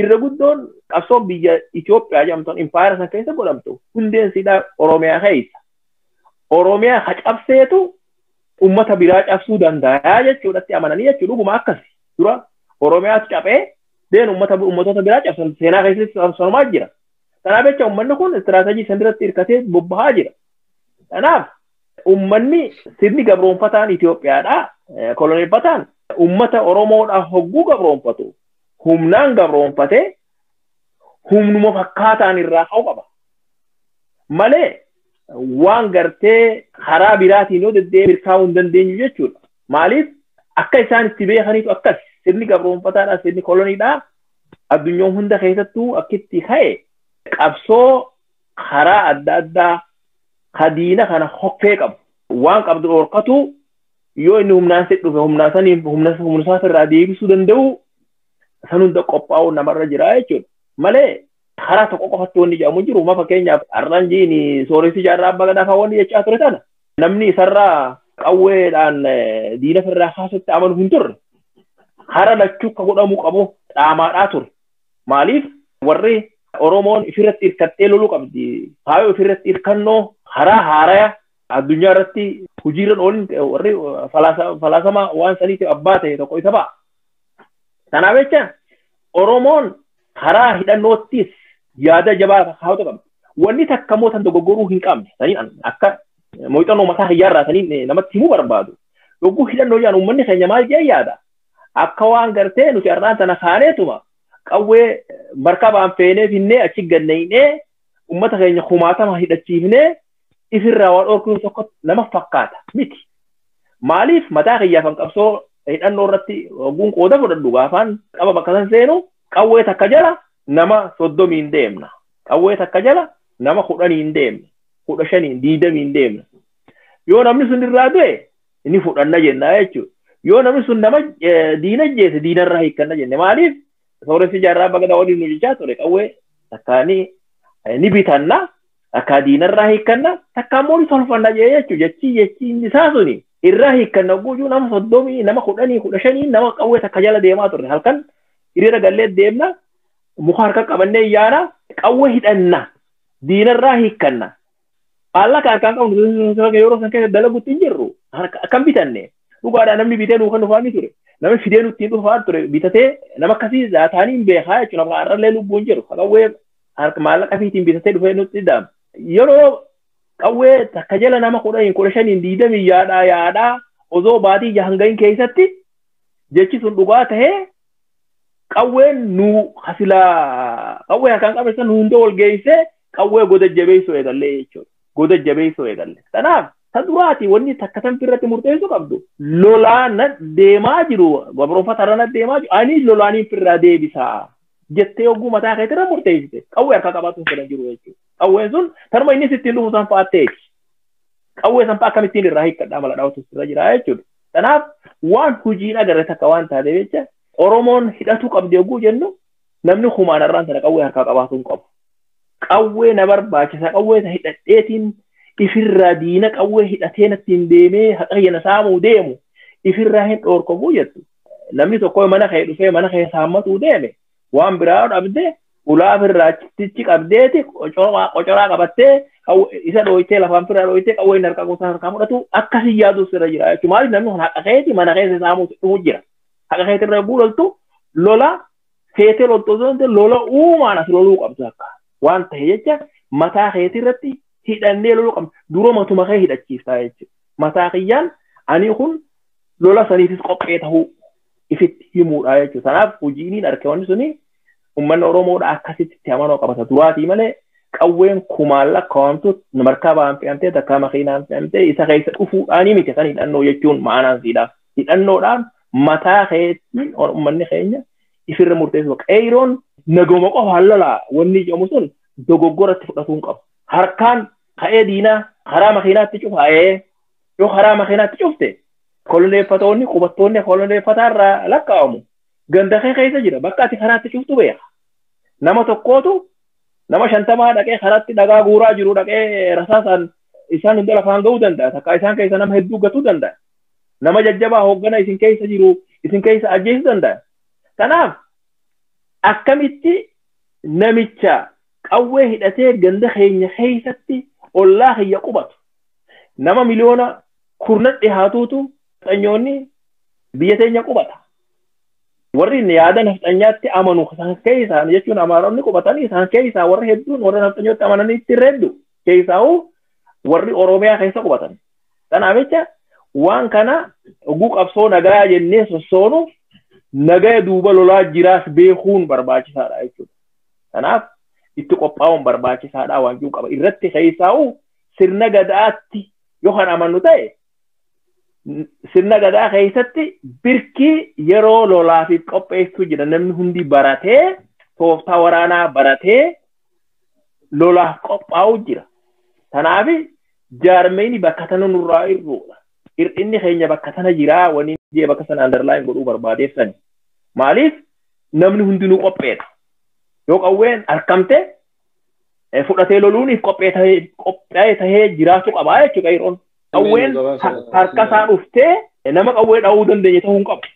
irra guddoon qabsoon biyya Itoophiyaa jedhamtuun impaayera san keessa godhamtu hundeen siidhaa oromiyaa keessa oromiyaa ha cabseetu uummata biraa cabsuu danda'a jechuudhatti amananii jechuudha dhuguma akkasi dura oromiyaatu caphee deenu ummata ummatoota biraa cabsan seenaa keessatti sonomaa jira. Kanaaf jecha ummanni kun istiraatajii san irratti hirkatee bobbahaa jira. Kanaaf ummanni sirni gabroonfataan Itoophiyaadhaa koloneeffataan ummata Oromoodhaa hogguu gabroonfatu humnaan gabroonfatee humnuma fakkaataan irraa ka'u qaba. Malee waan gartee karaa biraatiin yoo deddeebi'e milkaa'uu hin dandeenyu jechuudha. Maaliif akka isaan itti beekaniitu akkas sirni gabroonfataadhaa sirni koloniidhaa addunyaa hunda keessattuu akka itti ka'e qabsoo karaa adda addaa ka diina kana hokkee qabu waan qabdu dhorkatu yoo inni humnaan si dhufe humnaa saniin humna humnisaa irraa deebisuu danda'u san hunda qophaa'uu namarra jira jechuudha malee karaa tokko qofatti wanni jedhamu jiru ma fakkeenyaaf har'aan jiini sooressi jaarraa abbaa gadaa fa'aa wanni jechaa ture sana namni isarraa qawweedhaan diina firraa kaasutti amanu hin turre. Hara lachuu akka godhamuu qabu dhaamaadhaa ture. Maaliif warri Oromoon ifirratti hirkattee loluu qabdi. Faayoo ifirratti hirkannoo haraa haaraya addunyaa irratti hojiirran oolin warri falaasama waan saniitiif abbaa ta'e tokko isa ba'a. Kanaaf jecha Oromoon karaa hidhannoottis yaada jabaa kaa'utu qabdi. Wanni takka immoo tan dogoggoruu hin qabne. Saniin an- akka eh, muuxannoo mataa hiyyaarraa saniin eh, namatti himuu barbaadu. Yogguu hidhannoo jedhan uummanni keenya maal jedhee yaada? Akka waan gartee nuti har'aan tana kaaneetuma qawwee eh, markabaan feenee finnee achi ganneynee uummata keenya kumaatama hidhachiifnee ifirraa waa dhorkuun tokko nama fakkaata miti. Maaliif mataa kiyyaafan qabsoo hidhannoo irratti ogguun qooda fudhadhu gaafaan qaba bakka san seenu qawwee takka jala nama soddomiin deemna. Qawwee takka jala nama kudhaniin deemna. Kudha shaniin diidamiin deemna. Yoo namni sun irraa du'e ni fudhanna jenna jechuudha. Yoo namni sun nama diina jeese diinarraa hiikkanna jenne maaliif sooressi jaarraa bagadaa waliin nu jechaa ture qawwee takkaanii ni bitanna Takkaa diinarraa hiikkanna takkaa immoo ni tolfanna jee jechuudha. Jechii jechii inni isaa suni irraa hiikkanna hogguu jiru nama soddomii nama kudhanii kudha shanii nama qawwee takka jala deemaa turre halkan hiriira gallee deemna muka harka qabannee yaana qawwee hidhanna diinarraa hiikkanna. Maallaqa harkaan qabnu yeroo san keessa dalagutti hin jirru akkam bitanne dhugaadhaa namni bitee nuu kan dhufaa ni ture. Namni fidee nutti hin dhufaa ture bitatee nama akkasii taanii hin beekaa jechuudha. Har'allee lubbuun jiru. Qawwee harka maallaqa fiitiin bitatee dhufee nutti ida'ama. Yeroo qawwee takka jala nama kudha hin kudha shaniin diidamii yaadhaa yaadhaa osoo baatii jahan gahin keessatti jechi sun dhugaa tahee qawween nu hasilaa qawwee harkaan qabne san hunda wal geessee qawwee goda jabeessuu eegallee jechuudha. Goda jabeessuu eegalle. Kanaaf ta duraati wanni takka tanfi irratti murteessuu qabdu lolaa na deemaa jiru gabroonfata irra na deemaa jiru ani lolaaniin firraa deebisaa. jettee yogguu mataa keetii irra murteessite qawwee harkaa qabaatuun fedhan jiru jechuudha. Qawween sun tarma inni sittiin dhufu san fa'aa ta'eeti. Qawwee san fa'aa akkamittiin irraa hiikkadhaa mala dhaawatu irra jira jechuudha. Kanaaf waan hojiin agarre takka waan taatee jecha Oromoon hidhatuu qabdi yogguu jennu namni kumaan irraan sana qawwee harkaa qabaatu hin qabu. Qawwee na barbaachisa qawwee isa hidhadheetiin ifirraa diina qawwee hidhatee nattiin deemee haqayyana saamuu deemu ifirraa hin dhoorkamu jettu. namni tokko mana kee dhufee mana kee saammatuu deeme waan biraa dhabdee ulaaf irraa tichi qabdeeti qocoraa qabattee isa dhooytee lafaan firaa dhooytee qawwee inni harkaa gosaa harkaa fudhatu akkasii yaaduus irra jira jechuudha. Maaliif namni kun haqa keeti mana keessa saamuu dhufu jira. Haqa keeti irra yogguu loltu lola feetee loltu osoo hin lola uumaan as loluu qabdu akka waan ta'e jecha mataa keetii irratti hidhannee loluu qabdu dura matuma kee hidhachiiftaa jechuudha. Mataa kiyyaan ani kun lola saniifis qophee tahuu ifitti himuudha jechuudha. Kanaaf hojiiniin argamanni suni uummanni Oromoodha akkasitti itti amanoo qabata duraatii malee qawween kumaan lakkaa'amtu markaa ba'aan fe'amtee takkaa makiinaan fe'amtee isa keessa dhufuudhaanii miti kan hidhannoo jechuun ma'anaan siidha. Hidhannoodhaan mataa keetiin uummanni keenya ifirra murteessu. Qeeroon nagoma qofaan lolaa wanni jedhamu sun dogoggoratti fudhatuu hin qabu. Harkaan ka'ee diinaa karaa makiinaatti cufaa'ee Yoo karaa makiinaatti cufte koloneeffatoonni qubattoonni koloneeffataa irraa lakkaa'amu. Ganda kee keessa jira bakka ati karaatti cuftu beeka. Nama tokkootu nama shantamaa dhaqee karaatti dhagaa guuraa jiru dhaqee rasaasaan isaan hunda lafaan ga'uu danda'a. Takka isaan keessa nama hedduu gatuu danda'a. Nama jajjabaa hooggana isin keessa jiru isin keessa ajjeesuu danda'a. Kanaaf akkamitti namicha qawwee hidhatee ganda keenya keessatti ollaa kiyya qubatu nama miliyoona kurnan dhihaatuutu nafxanyoonni biyya teenya qubata. Warri yaada nafxanyaatti amanu isaan keessaa jechuun amaaronni qubatan isaan keessaa warri hedduun warra nafxanyotti amananitti irra heddu keessaa'u warri Oromiyaa keessa qubatan. Kanaaf jecha waan kana oguu qabsoo nagaa jennee sossoonu nagaya duuba lolaa jiraas beekuun barbaachisaadha jechuudha. Kanaaf itti qophaa'uun barbaachisaadha waan jiru qaba. Irratti keessaa'u sirna gadaatti yoo kan amannu ta'e sirna gadaa keessatti birkii yeroo lolaafis qopheessuu jira namni hundi baratee tooftaa waraanaa baratee lolaaf qophaa'u jira. Kanaaf jaarmeyni bakka sana nurraa irruudha. Hir'inni keenya bakka sana jiraa waniin jee bakka sana andarlaayin godhuu barbaadeef sani. Maaliif namni hundinuu qopheedha. Yoo qawween arkamte fudhatee loluuniif qophaa'e tahee jiraachuu qabaa jechuudha qeerroon. Qawween harka isaa dhuftee nama qawwee dha'uu dandeenye ta'uu hin qabu.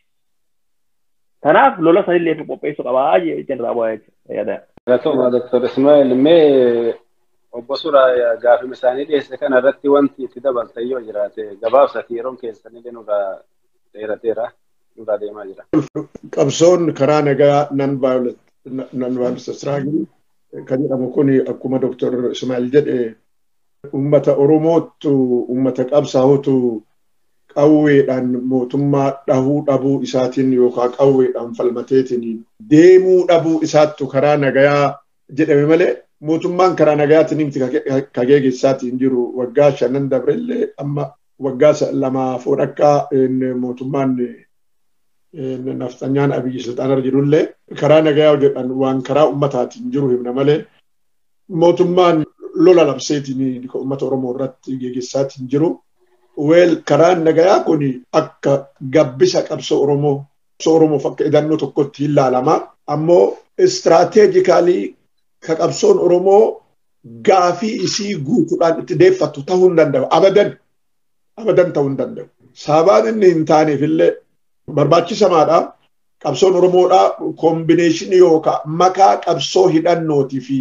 Kanaaf lola sanillee qopheessuu qabaa jechuun raawwaa jechuudha yaada. Galatoomaa Dr. Ismaa'il mee obbo Suuraa gaafima isaanii dhiyeesse kana irratti wanti itti dabaltan yoo jiraate gabaabsati yeroon keessanillee nurraa dheerateera nurraa deemaa jira. Qabsoon karaa nagaa non violent non violence struggle kan jedhamu kun akkuma Dr. Ismaa'il jedhe uummata Oromoottu uummata qabsaa'utu qawweedhaan mootummaa dhahuu dhabuu isaatiin yookaan qawweedhaan falmateetiin deemuu dhabuu isaattu karaa nagayaa jedhame malee mootummaan karaa nagaatiin miti ka geegessaati hin jiru waggaa shanan dabrellee amma waggaa lamaa fi walakkaa mootummaan nafxanyaan abiyyi silxaanarra jirullee karaa nagayaa hojjetan waan karaa ummataatiin jiru himna malee mootummaan lola labseetiin ka ummata Oromoo irratti geegessaatiin jiru. Weel karaan nagayaa kun akka gabbisa qabsoo Oromoo qabsoo Oromoof akka idannoo tokkotti hin laalama. Ammoo istiraateejikaalii ka qabsoon Oromoo gaafii isii guutuudhaan itti deeffattu ta'uu hin danda'u. Abadan abadan ta'uu hin danda'u. Sababaan inni hin taaneef illee barbaachisamaadha. Qabsoon Oromoodha koombineeshinii yookaan makaa qabsoo hidhannootii fi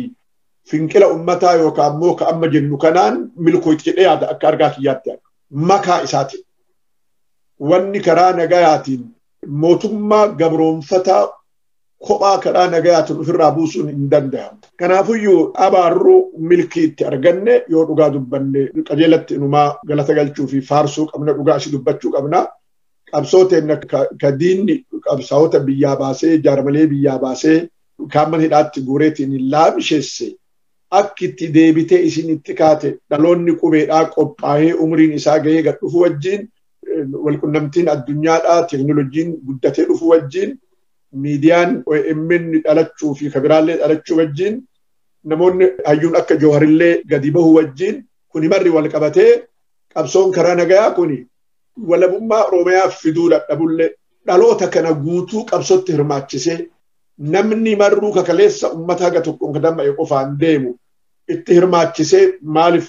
finqila ummataa yookaan ammoo ka amma jennu kanaan milkooyti jedhee yaada akka argaa kiyyaatti makaa isaatiin. wanni karaa nagayaatiin mootummaa gabroonfataa kophaa karaa nagayaatiin ofirraa buusuun hin danda'amu. Kanaafuyyuu abaarruu milkii itti arganne yoo dhugaa dubbanne qajeelatti inumaa galata galchuu fi faarsuu qabna dhugaa asii dubbachuu qabna. Qabsoo teenna ka diinni qabsaa'ota biyyaa baasee jaarmalee biyyaa baasee kaamman hidhaatti guureetiin hin laamisheesse akki itti deebitee isin itti kaate dhaloonni qubeedhaa qophaa'ee umriin isaa gahee gad dhufu wajjiin walqunnamtiin addunyaadhaa teeknolojiin guddatee dhufu wajjiin miidiyaan OMN dhalachuu fi kabiraallee dhalachuu wajjiin namoonni hayyuun akka jooharillee gadi bahu wajjiin kuni marri wal qabatee qabsoon karaa nagayaa kuni walabummaa Oromiyaa fiduu dadhabullee dhaloota kana guutuu qabsootti hirmaachisee namni marruu kakaleessa ummata haga tokkoon kadama'e qofaan deemu itti hirmaachisee maaliif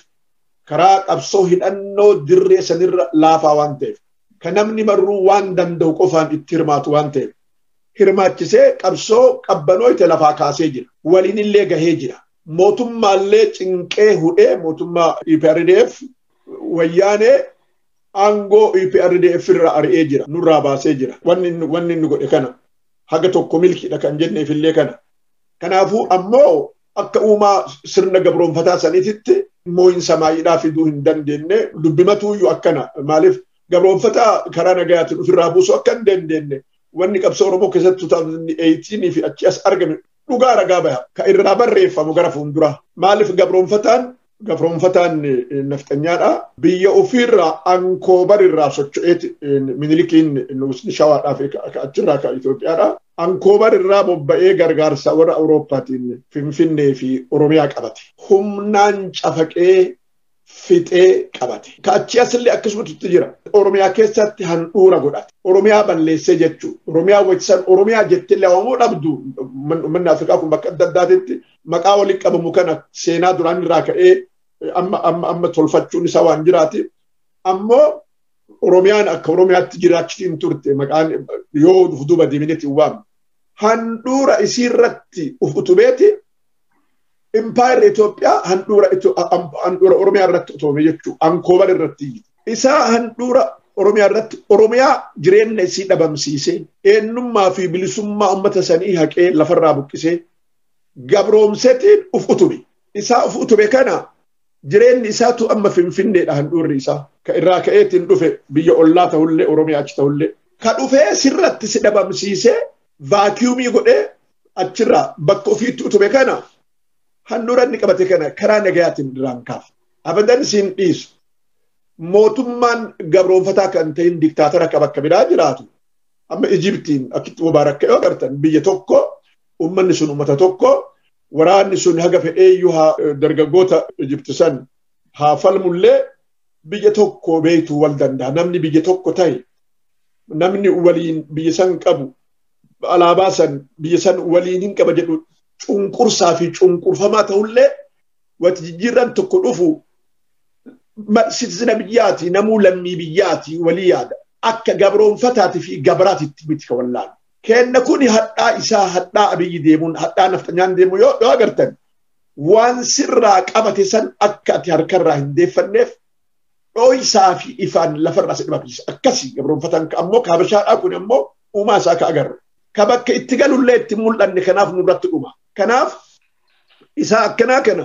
karaa qabsoo hidhannoo dirree sanirra laafaa waan ta'eef ka namni marruu waan danda'u qofaan itti hirmaatu waan ta'eef hirmaachisee qabsoo qabbanooyte lafaa kaasee jira waliinillee gahee jira mootummaallee cinqee hudhee mootummaa EPRDF wayyaanee aangoo EPRDF irraa ari'ee jira. Nurraa baasee jira. Wanni inni godhe kana. Haga tokko milkiidha kan jenneef illee kana. Kanaafuu ammoo akka uumaa sirna gabroonfataa saniititti moo'insa maayidhaa fiduu hin dandeenye dubbimatuuyyu akkana maaliif gabroonfataa karaa nagayaatiin ofirraa buusuu akka hin dandeenye wanni qabsoo Oromoo keessatti 2018 fi achi as argame dhugaa ragaa baha ka irraa barreeffamu gara fuulduraa maaliif gabroonfataan gabroomfataan nafxanyaadha. Biyya ofiirraa ankoobar irraa socho'eeti minilikiin nuusni shawaadhaa fi achirraa kan Itoophiyaadha. Ankoobar irraa bobba'ee gargaarsa warra Awurooppaatiin Finfinnee fi Oromiyaa qabate. Humnaan cafaqee fixee qabate. Ka achi asillee akkasumatti jira. Oromiyaa keessatti handhuura godhate. Oromiyaa balleessee jechuudha. Oromiyaa wajjisan Oromiyaa jettillee waamuu dhabdu manni Afrikaa kun bakka adda addaatitti maqaa walitti qabamu kana seenaa duraan irraa ka'ee amma amma amma tolfachuun isaa waan jiraati. Ammoo Oromiyaan akka Oromiyaatti jiraachiti hin turte maqaan yoo of duuba deebineeti waamu. Handhuura isiirratti of utubeeti impaayerri Itoophiyaa handhuura handhuura Oromiyaa irratti utume jechuudha. Ankoobar irratti. Isaa handhuura Oromiyaa irratti Oromiyaa jireenya isii dhabamsiisee eenyummaa fi bilisummaa uummata sanii haqee lafarraa buqqisee gabroomsetiin uf utube. Isaa uf utube kana jireenyi isaatu amma finfinneedha handhuurri isaa. Ka irraa ka'eetiin dhufe biyya ollaa ta'ullee Oromiyaa achi ta'ullee. Ka dhufee sirratti si dhabamsiisee vaakiyuumii godhee achirraa bakka ofiitti utube kana handhuura inni qabate kana karaa nagayaatiin irraan kaaf. Abadan siin dhiisu. Mootummaan gabroomfataa kan ta'in diktaatara akka bakka biraa jiraatu amma Ijibtiin akkitti Mubaarak ka'ee agartan biyya tokko Uummanni sun uummata tokko waraanni sun haga fedheeyyuu haa dargaggoota Ijipti san haa falmullee biyya tokko beektuu wal danda'a. Namni biyya tokko ta'e namni waliin biyya san qabu alaabaa san biyya san waliin hin qaba jedhu cunqursaa fi cunqurfamaa ta'ullee wanti jijjiirran tokko dhufu sitisina biyyaati namuu lammii biyyaati walii yaada akka gabroonfataati fi gabraatitti miti ka wallaalu. Kenna kuni hadhaa isaa hadhaa abiyyi deemuun hadhaa nafxanyaan deemu yoo yoo agartan waan sirraa qabate san akka ati harkarraa hin deeffanneef dhooysaa fi ifaan lafarraa si dhabamsiisa. Akkasii gabroonfataan ka ammoo kaabashaadhaa kun ammoo uumaa isaa ka agarru. Ka bakka itti galullee itti mul'anne kanaaf nurratti dhuma. Kanaaf isaa akkanaa kana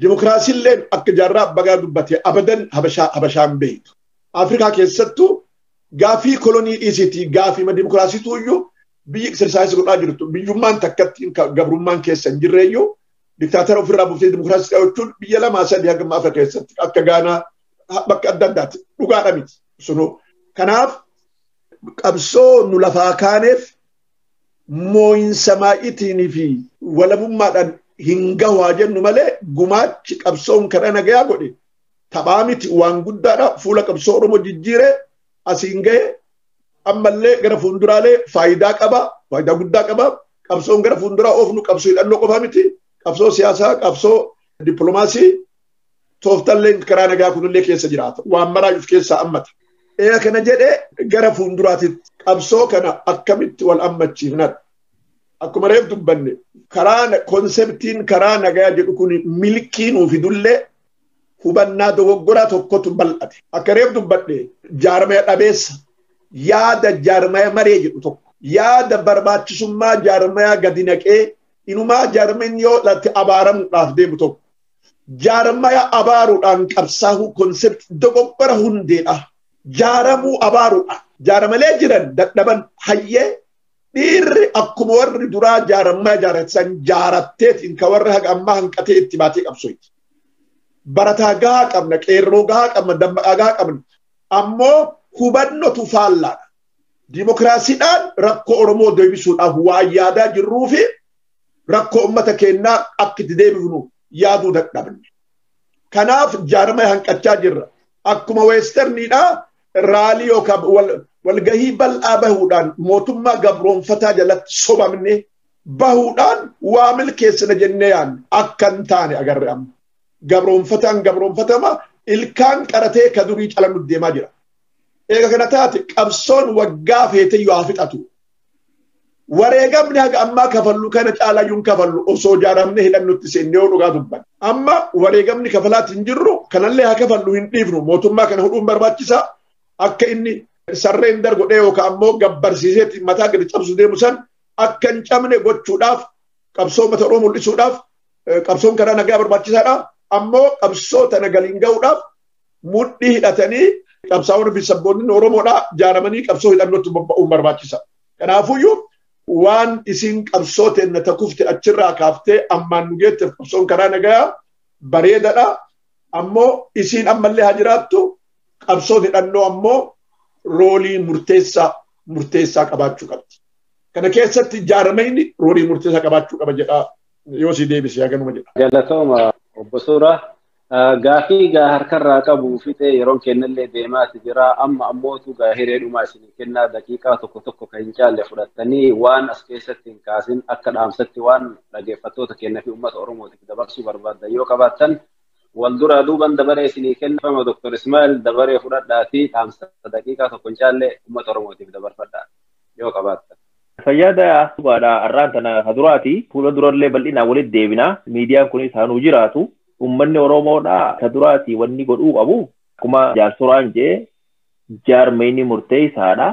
dimokiraasiilleen akka jaarraa bagaa dubbate abadan habashaa habashaan beektu. Afrikaa keessattuu Gaafii kolonii dhiisiitii gaafiima dimokiraasiituu iyyuu biyyi exercise godhaa jirtu biyyummaan takkatti gabrummaan keessa hin jirre iyyuu diktaatara ofirraa buftee dimokiraasii dhawachuun biyya lamaa sadii hanga amma Afrika keessatti akka Gaanaa bakka adda addaatti dhugaadha miti sunuu. Kanaaf qabsoo nu lafaa kaaneef moo'insa maa'iitiinii fi walabummaadhaan hin gahu haa jennu malee gumaachi qabsoon karaa nagayaa godhe taphaa miti waan guddaadha fuula qabsoo Oromoo jijjiiree asiin ga'e ammallee gara fuulduraalee faayidaa qaba faayidaa guddaa qaba qabsoon gara fuulduraa oofnu qabsoo hidhannoo qofaa miti qabsoo siyaasaa qabsoo dippiloomaasii tooftallee karaa nagaa kunillee keessa jiraata waan maraa of keessaa hammata. Eega kana jedhee gara fuulduraatitti qabsoo kana akkamitti wal hammachiifnadha. Akkuma reef dubbanne karaa konseptiin karaa nagaa jedhu kun milkii nuuf fidullee hubannaa dogoggoraa tokkotu bal'ate. Akka reef dubbadhe jaarmaya dhabeessa yaada jaarmaya maree jedhu tokko yaada barbaachisummaa jaarmayaa gadi naqee inumaa jaarmeen yoo latte abaaramuudhaaf deemu tokko jaarmaya abaaruudhaan qabsaahuu konsept dogoggora hundeedha. Jaaramuu abaaruudhaan jaaramalee jiran dadhaban hayyee Dhiirri akkuma warri duraa jaarammaa ijaarratan jaaratteetiin kan warra haga ammaa hanqatee itti baatee qabsooyti. Barataa gahaa qabna, qeerroo gahaa qabna, dammaqaa gahaa qabna. Ammoo hubannotu faallaadha. Dimokiraasiidhaan rakkoo Oromoo deebisuudhaaf waan yaadaa jirruu fi rakkoo uummata keenyaa akka itti deebifnu yaaduu dadhabne. Kanaaf jaarmaya hanqachaa jirra. Akkuma weesterniidhaa raalii yookaan walgahii bal'aa bahuudhaan mootummaa gabroonfataa jalatti sobamne bahuudhaan waa milkeessina jennee yaadne akka hin taane agarre amma. Gabroonfataan gabroonfatama ilkaan qaratee ka durii calaluuf deemaa jira. Eega kana taate qabsoon waggaa feeteyyuu haa fixatu. Wareegamni haga ammaa kafallu kana caalayyuu hin kafallu osoo jaaramne hidhannutti seenne yoo dhugaa dubban. Amma wareegamni kafalaatti hin jirru kanallee haa kafallu hin dhiifnu mootummaa kana hudhuun barbaachisaa akka inni sarreen dar godhee yookaan ammoo gabbarsiiseetti mataa gadi cabsu deemu san akka hin cabne gochuudhaaf qabsoo mata Oromoo mul'isuudhaaf qabsoon karaa nagaa barbaachisaadha. Ammoo qabsoo tana galiin ga'uudhaaf mudhii hidhatanii qabsaa'onni fi sabboonni Oromoodhaa jaaramanii qabsoo hidhannootti bobba'uun barbaachisa. Kanaafuyyuu waan isiin qabsoo teenna takufte achirraa kaaftee ammaan nu geetteef qabsoon karaa nagayaa bareedadha. Ammoo isiin ammallee haa jiraattu qabsoon hidhannoo ammoo roolii murteessaa murteessaa qabaachuu qabdi. Kana keessatti jaaramayni roolii murteessaa qabaachuu qaba jedha yoo si deebise yaa ganuma jedha. Galatooma obbo Suuraa. Gaafii gaa harkarraa qabu fixee yeroon kennallee deemaati jira. Amma ammootu gaa hiree dhumaa isinii kennaa daqiiqaa tokko tokko kan hin caalle fudhattanii waan as keessatti hin kaasin akka dhaamsatti waan dhageeffattoota keenya fi uummata Oromootiif dabarsuu barbaaddan yoo qabaattan wal duraa duuban dabaree isinii kennama Dr. Ismaa'el dabaree fudhadhaatii dhaamsa daqiiqaa tokko hin caalle uummata Oromootiif dabarfadhaa yoo qabaattan. Fayyaada Subaadha har'aan tana ka duraati fuula durallee bal'inaan walitti deebina miidiyaan kunis haa nuu jiraatu. Uummanni Oromoodhaa ta duraatii wanni godhuu qabu akkuma jaarsoraan jee jaarmayni murteessaadha.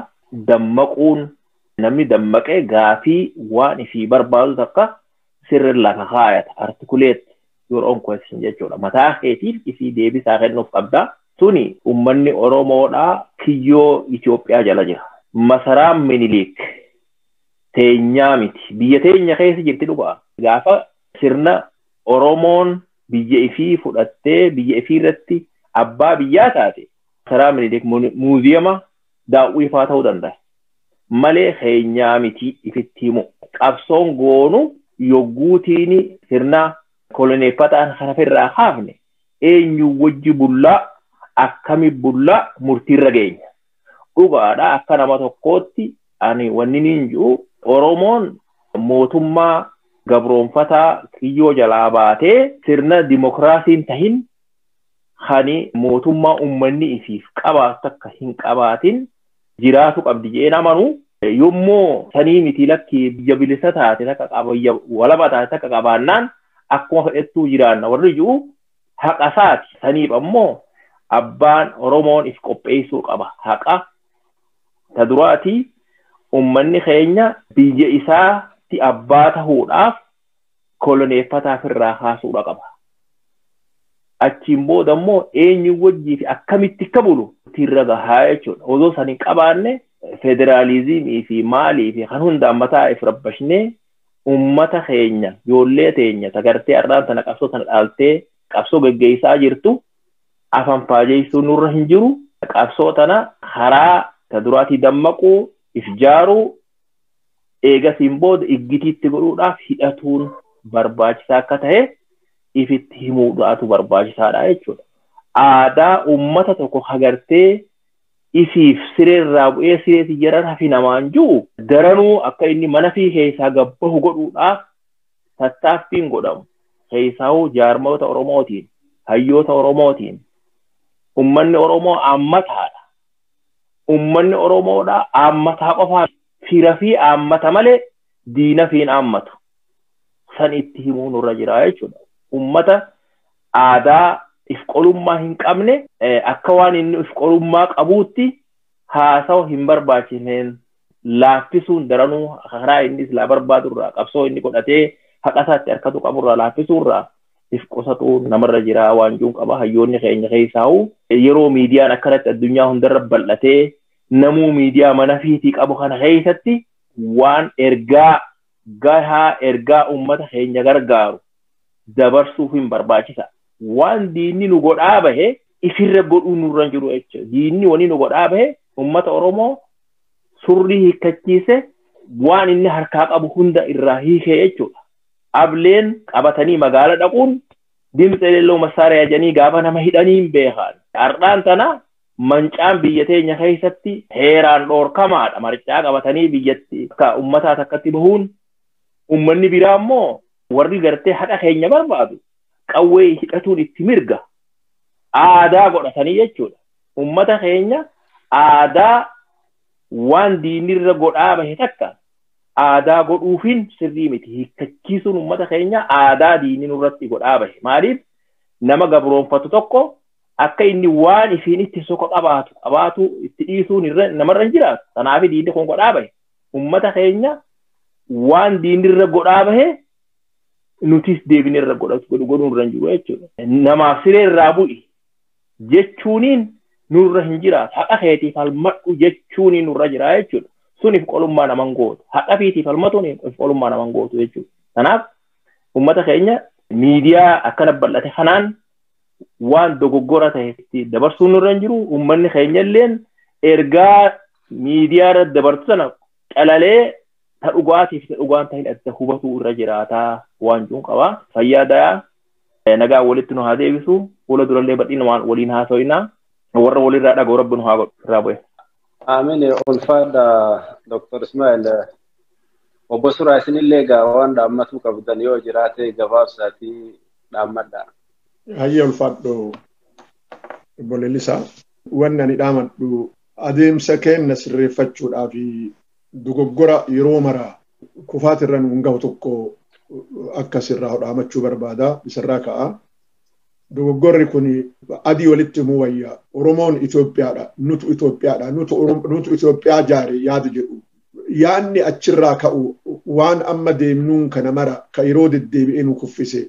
Dammaquun namni dammaqe gaafii waan ifii barbaadu takka sirri lafa kaayata articulate your own question jechuudha. Mataa keetiif ifii deebisaa kennuuf qabda. Tuni uummanni Oromoodhaa kiyyoo Itoophiyaa jala jira. Masaraan Miniliik teenyaa miti. Biyya teenya keessa jirti dhugaa. Gaafa sirna Oromoon biyya ifii fudhattee biyya ifii irratti abbaa biyyaa taate taraa Minilik muuziyama daawwii faa ta'uu danda'a. Malee keenyaa mitii ifitti himuu. Qabsoon goonu yogguu tiini sirna koloneeffataan kana firraa kaafne eenyuu wajji bullaa akkami bullaa murtiirra geenya. dhugaadha akka nama tokkootti ani wanni niin jiru Oromoon mootummaa gabroonfataa kiyyoo jalaa baatee sirna dimokiraasiin tahin kani mootummaa ummanni isiif qabaatu takka hin qabaatin jiraatu qabdi jedheen amanu yommuu sanii miti lakki biyya bilisa taate takka qaba biyya walaba taate takka qabaannaan akkuma fedhettuu jiraanna warri jiru haqa isaati saniif ammoo abbaan oromoon if qopheessuu qaba haqa ta duraati ummanni keenya biyya isaatti abbaa tahuudhaaf koloneeffataa firraa kaasuudha qaba achiin booda immoo eenyu wajjii fi akkamitti akka bulu irra gahaa jechuudha osoo san hin qabaanne federaalizimii fi maalii fi kan hundaan mataa if rabbashnee ummata keenya ijoollee teenya tagartee har'aan tana qabsoo tana dhaaltee qabsoo geggeessaa jirtu afaan faajeessuun nurra hin jiru qabsoo tana karaa ta duraatii dammaquu if jaaruu eegasiin booda iggitiitti godhuudhaaf hidhatuun barbaachisaa akka ta'e ifitti himuudhaatu barbaachisaadha jechuudha. Aadaa ummata tokko hagartee isiif siree irraa bu'ee siree tiyyarra rafi namaan ju'u daranuu akka inni mana fi keessaa gad bahu godhuudhaaf tattaaffiin godhamu keessaahuu jaarmayoota Oromootiin, hayyoota Oromootiin ummanni Oromoo aammataadha. Ummanni Oromoodhaa aammataa qofaa firafii aammata malee diinafii hin aammatu. San itti himuu nurra jira jechuudha. Ummata aadaa if qolummaa hin qabne akka waan inni if qolummaa qabuutti haasawa hin barbaachisneen laaffisuun daranuu karaa inni silaa barbaadu irraa qabsoo inni godhatee haqa isaatti harkatu qabu irraa laaffisuu irraa if qusatu namarra jira waan juun qaba hayyoonni keenya keessaa'u yeroo miidiyaan akkanatti addunyaa hundarra bal'atee namuu miidiyaa mana fiitii qabu kana keessatti waan ergaa gahaa ergaa uummata keenya gargaaru dabarsuuf hin barbaachisa. Waan diinni nu godhaa bahe ifirra godhuu nurra hin jiru jechuudha. Diinni wani nu godhaa bahe uummata Oromoo surrii hiikkachiise waan inni harkaa qabu hunda irraa hiikee jechuudha. Ableen qabatanii magaala dhaquun dimtsa eleelloo massaariyaa jedhanii gaafa nama hidhanii hin beekan. Har'aan tana mancaan biyya teenya keessatti heeraan dhoorkamaadha maricaa qabatanii biyyatti akka ummataa takkatti bahuun ummanni biraa immoo warri gartee haqa keenya barbaadu qawwee hidhatuun itti mirga aadaa godhatanii jechuudha ummata keenya aadaa waan diinirra godhaa bahe takka aadaa godhuufiin sirrii miti hiikkachiisuun ummata keenya aadaa diinii nurratti godhaa bahe maaliif nama gabroonfatu tokko akka inni waan isiin itti soka qabaatu qabaatu itti dhiisuun irra namarra hin jiraatu kanaaf diinni kun godhaa bahe ummata keenya waan diinni irra godhaa bahe nutis deebinee irra godhatu godhu godhuun irra hin jiru jechuudha. Namaaf siree irraa bu'i jechuuniin nurra hin jiraatu haqa keetiif falmadhu jechuuniin nurra jira jechuudha. Suniif qolummaa naman gootu haqa fiitiif falmatuun qolummaa naman gootu jechuudha. Kanaaf ummata keenya miidiyaa akkana bal'ate kanaan waan dogoggora ta'etti dabarsuun irra hin jiru uummanni keenya illeen ergaa miidiyaa irratti dabartu sana calalee ta dhugaatiif ta dhugaan ta'in adda hubatuu irra jiraataa waan jiruun qaba fayyaa dayaa nagaa walitti nu haa deebisu fuula durallee badhiin waan waliin haasoinaa warra walirraa dhaga'u rabbi nu haa godhu irraa bu'e. Amin ulfaadha Dr. Ismail. Obbo Suraa isinillee egaa waan dhaammatuu qabdan yoo jiraate gabaabsaatii dhaammadha. Hayyee ulfaadhu obbo Lelisaa. Wanni ani dhaamadhu adeemsa keenna sirreeffachuudhaa fi dogoggora yeroo mara kufaatirra nuun gahu tokko akka sirraa dhaamachuu barbaada isarraa ka'a. dogoggorri kun adii walitti himuu wayya oromoon Itoophiyaadha nutu Itoophiyaadha nutu Oromo- nutu Itoophiyaa jaare yaada jedhu yaanni achirraa ka'u waan amma deemnuun kana mara ka yeroo deddeebi'ee nu kuffise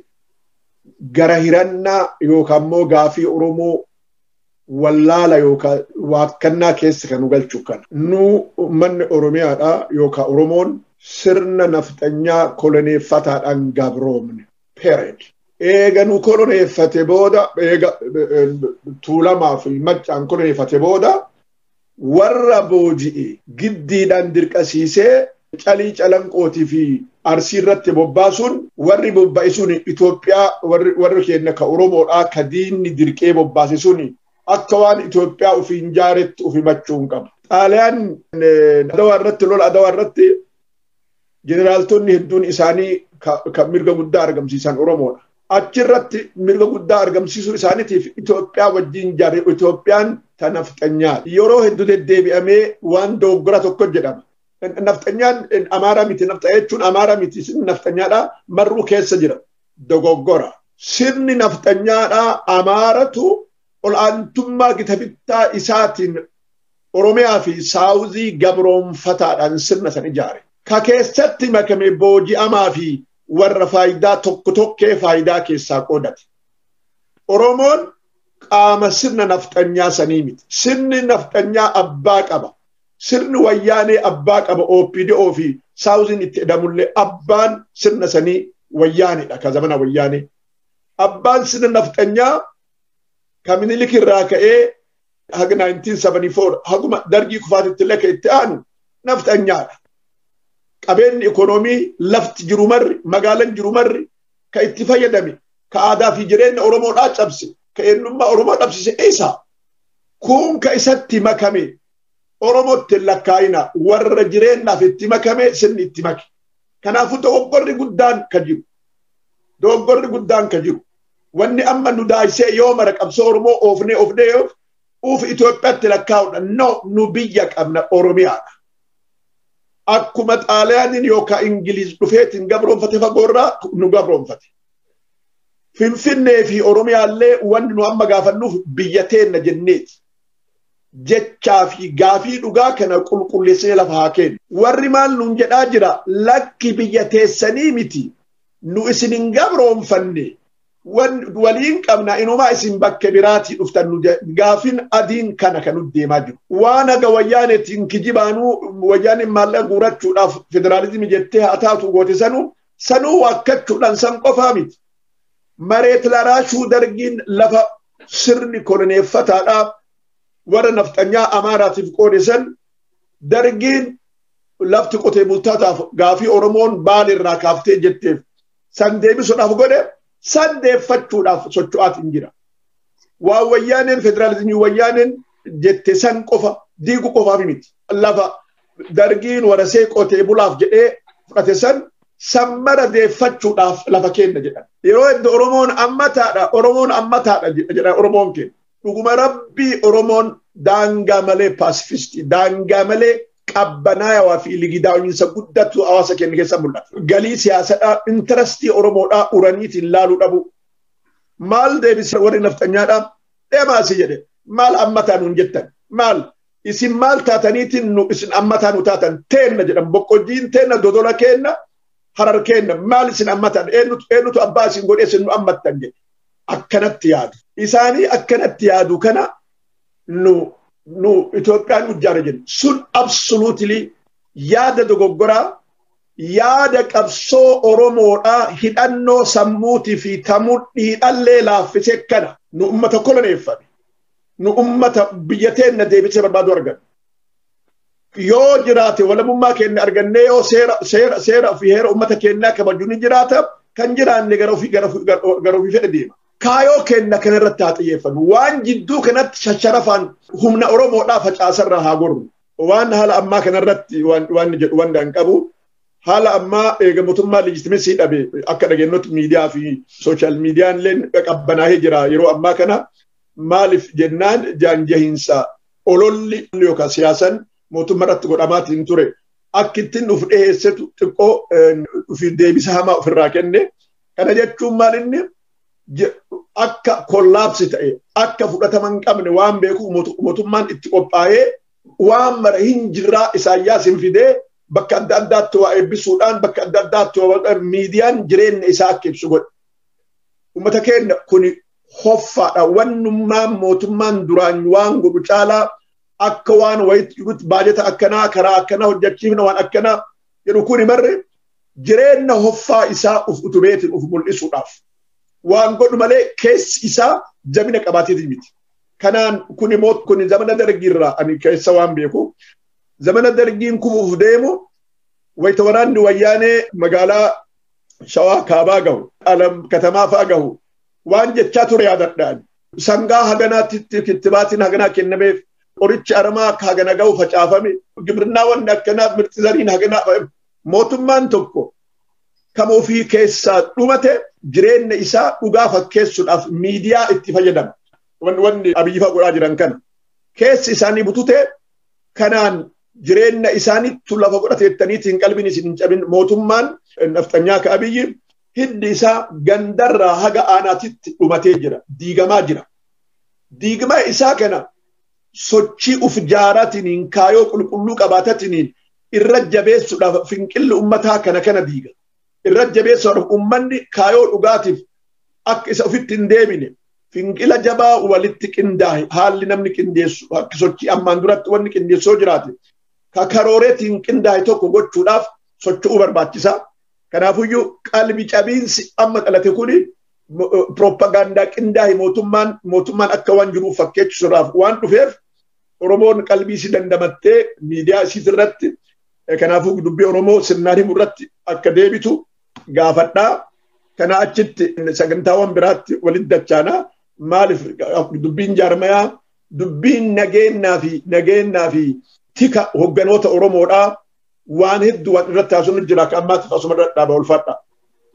gara hirannaa yookaan immoo gaafii oromoo wallaala yookaan waakkannaa keessa kan nu galchu kana nu manni oromiyaadha yookaan oromoon sirna nafxanyaa koloneeffataadhaan gabroomne period. Eega nu koloneeffate booda eega tuulamaa fi maccaan koloneeffate booda warra booji'e giddiidhaan dirqasiisee calii calanqootii fi arsii irratti bobbaasuun warri bobba'e sun Itoophiyaa warri keenya ka Oromoodhaa ka diinni dirqee bobbaase sun akka waan Itoophiyaa ofiin jaaretti ofimachuun qabu. Xaaliyaan adawaa irratti lola adawaa irratti jeneraaltonni hedduun isaanii kan mirga guddaa argamsiisan Oromoodha. Achirratti mirga guddaa argamsiisuu isaaniitiif Itoophiyaa wajjin jarri Itoophiyaan ta nafxanyaati. Yeroo hedduu deddeebi'amee waan dogoggora tokko jedhama. Nafxanyaan Amaaraa miti nafxa jechuun Amaaraa miti sirni nafxanyaadhaa marruu keessa jira. Dogoggora. Sirni nafxanyaadhaa Amaaratu ol'aantummaa gita bittaa isaatiin Oromiyaa fi Saawuzii gabroomfataadhaan sirna san ijaare. Ka keessatti makame booji'amaa fi warra faayidaa tokko tokkee faayidaa keessaa qoodate. Oromoon qaama sirna nafxanyaa sanii miti. Sirni nafxanyaa abbaa qaba. Sirni wayyaanee abbaa qaba OPDO fi Saawuziin itti edamullee abbaan sirna sanii wayyaanedha ka zamana wayyaanee. Abbaan sirna nafxanyaa ka minilik irraa ka'ee haga 1974 haguma dargii kufaatitti illee kan itti aanu nafxanyaadha. Qabeenyi ikoonoomii lafti jiru marri magaalan jiru marri kan itti fayyadame ka aadaa fi jireenya Oromoodhaa cabse ka eenyummaa Oromoo dhabsise isa. Kun ka isatti makame Oromootti hin lakkaa'ina warra jireenyaaf itti makame sirni itti make. Kanaafuu dogoggorri guddaan ka jiru. Dogoggorri guddaan ka jiru. wanni amma nu daasee yoo mara qabsoo Oromoo oofnee oofnee yoo uuf Itoophiyaatti lakkaa'udha. No, nu biyya qabna Oromiyaadha. Akkuma Xaaliyaaniin yookaan Ingiliiz dhufeetiin gabroonfate fagoorraa nu gabroonfate. Finfinnee fi Oromiyaallee wanni nu amma gaafannuuf biyya teenna jenneeti. Jechaa fi gaafii dhugaa kana qulqulleessinee lafa haa kennu. Warri maal nuun jedhaa jira lakki biyya teessanii miti. nu isin hin gabroonfanne waliin qabna inumaa isin bakke biraatii dhuftan nu gaafin adiin kana kan deemaa jiru. Waan haga wayyaanetiin kijibaanuu wayyaaneen maallaqa guurachuudhaaf federaalizimii jettee haa taatu goote sanuu sanuu waakkachuudhaan san qofaa miti. Mareet laraashuu dargiin lafa sirni koloneeffataadhaa warra nafxanyaa Amaaraatiif qoode san dargiin lafti qotee bultaataaf gaafii Oromoon baal irraa kaaftee jetteef san deebisuudhaaf godhe san deeffachuudhaaf socho'aatiin jira. Waan wayyaaneen federaalizimii wayyaaneen jette san qofa diigu qofaaf miti. Lafa dargiin warasee qotee bulaaf jedhee fudhate san san mara deeffachuudhaaf lafa kenna jedhan. Yeroo heddu Oromoon ammataadha Oromoon ammataadha jedha Oromoon keenya. Dhuguma rabbii Oromoon daangaa malee paasifistii, daangaa malee qabbanaayawaa fi ligidaawinsa guddatu hawaasa keenya keessa mul'ata. Galii siyaasadhaa, intarastii Oromoodhaa uraniitiin laaluu dhabu. Maal deebisee warri nafxanyaadhaa deemaasi jedhe. Maal ammataa nuun jettan? Maal? Isin maal taataniitiin nu isin ammataa nu taatan teenna jedhan boqqojjiin teenna dodola keenna harar keenna maal isin ammatan eenyutu abbaa isin godhee isin nu ammattan jedhe. akkanatti yaadu. Isaanii akkanatti yaadu kana nu nu Itoophiyaan nu ijaara jennu. Sun absoluutili yaada dogoggoraa yaada qabsoo Oromoodhaa hidhannoo sammuutii fi tamudhiidhallee laaffisee kana nu ummata koloneeffame nu ummata biyya teenna deebisee barbaadu arganna. yoo jiraate walabummaa keenya argannee yoo seera seera seera fi heera uummata keenyaa kabaju ni jiraata kan jiraanne gara ofii gara ofii gara ofii fedhe deema. Kaayoo keenya kana irratti haa xiyyeeffannu waan jidduu kanatti shasharafaan humna Oromoodhaa facaasarraa haa gorru. Waan haala ammaa kana irratti waan waan jedhu waan dhaan qabu haala ammaa eega mootummaa leejitimeesii dhabe akka dhageenyutti miidiyaa fi sooshaal miidiyaan illee qabbanaa'ee jira yeroo ammaa kana maaliif jennaan jaanjahiinsa ololli yookaan siyaasan mootummaa irratti godhamaatiin ture akka ittiin of dhiyeessetu xiqqoo ofiif deebisa hamaa ofirraa kenne. Kana jechuun maal inni akka kollaapsi ta'e akka fudhatama hin qabne waan beekuuf mootummaan itti qophaa'ee waan mara hin jirraa isaayyaas hin fidee bakka adda addaatti waa eebbisuudhaan bakka adda addaatti waa miidiyaan jireenya isaa akka ibsu godhe. Uummata keenya kun hoffaadha wannummaan mootummaan duraan waan godhu caalaa akka waan wayitti jirutti baajata akkanaa karaa akkanaa hojjechiifna waan akkanaa jedhu kun barre jireenya hoffaa isaa uf utubeetiin uf mul'isuudhaaf waan godhu malee keessi isaa jabina qabaateetiin miti. Kanaan kun immoo kun zamana dargiirraa ani keessa waan beeku zamana dargiin kufuuf deemu wayita waraanni wayyaanee magaalaa shawaa kaabaa gahu alam katamaa fa'aa gahu waan jechaa ture yaadadhaan sangaa haganaatti kittibaatiin haganaa kennameef qorichi aramaa akka hagana ga'u facaafame gibirnaa wanni akkanaaf mirti zariin haganaa mootummaan tokko kan ofii keessaa dhumate jireenya isaa dhugaa fakkeessuudhaaf miidiyaa itti fayyadama. Wanni abiyyifa godhaa jiran kana keessi isaanii butute kanaan jireenya isaaniitu lafa godhateettaniitiin qalbiin isin hin cabin mootummaan nafxanyaa ka abiyyi hiddi isaa gandarraa haga aanaatitti dhumatee jira diigamaa jira diigmaa isaa kana sochii uf jaaratiniin kaayoo qulqulluu qabaatatiniin irra jabeessuudhaaf finqilli ummataa kana kana diiga irra jabeessuudhaaf ummanni kaayoo dhugaatiif akka isa ofitti hin deebine finqila jabaa walitti qindaahe haalli namni qindeessu akka sochii ammaan duratti wanni qindeessoo jiraate ka karooreetiin qindaahe tokko gochuudhaaf socho'uu barbaachisaa Kanaafuyyuu qalbi cabiinsi amma dhalate kun piroopagaandaa qindaa'e mootummaan mootummaan akka waan jiru fakkeessuudhaaf waan dhufeef Oromoon qalbii isii dandamattee miidiyaa isiit irratti kanaafuu dubbii Oromoo sirnaan himu irratti akka deebitu gaafadhaa. Kanaa achitti sagantaawwan biraatti walitti dachaana maaliif dubbiin jaarmayaa dubbiin nageenyaa fi nageenyaa fi tika hogganoota Oromoodhaa waan hedduu waan irratti haasofnu jira akka ammaatiif asuma irra dhaaba ulfaadha.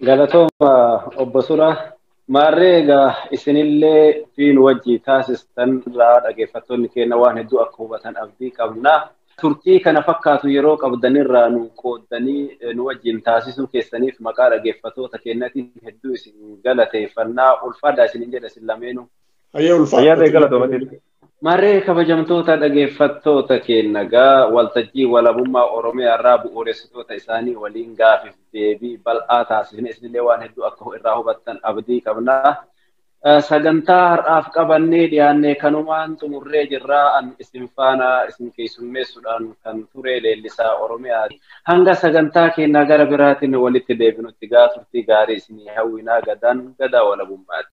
Galatooma obbo Sura maarree egaa isinillee fiin wajjii taasistan irraa dhaggeeffattoonni keenya waan hedduu akka hubatan abdii qabna. Turtii kana fakkaatu yeroo qabdan irraa nu qooddanii nu wajjin taasisuu keessaniif maqaa dhaggeeffattoota keenyatiin hedduu isin galateeffannaa ulfaadhaa isinin jedha isin lameenuu. Hayyee ulfaadha. Hayyee galatooma. Maree kabajamtoota dhageeffattoota keenna gaa waltajjii walabummaa Oromiyaa irraa bu'uuressitoota isaanii waliin gaafiif deebii bal'aa taasifne isinillee waan hedduu akka irraa hubattan abdii qabna. Sagantaa har'aaf qabannee dhiyaannee kanumaan xumurree jirra. An isin faana isin keessummeessuudhaan kan ture leellisaa Oromiyaa. Hanga sagantaa keenna gara biraatiin walitti deebinutti gaa turtii gaarii isinii hawwinaa gadaan gadaa walabummaati.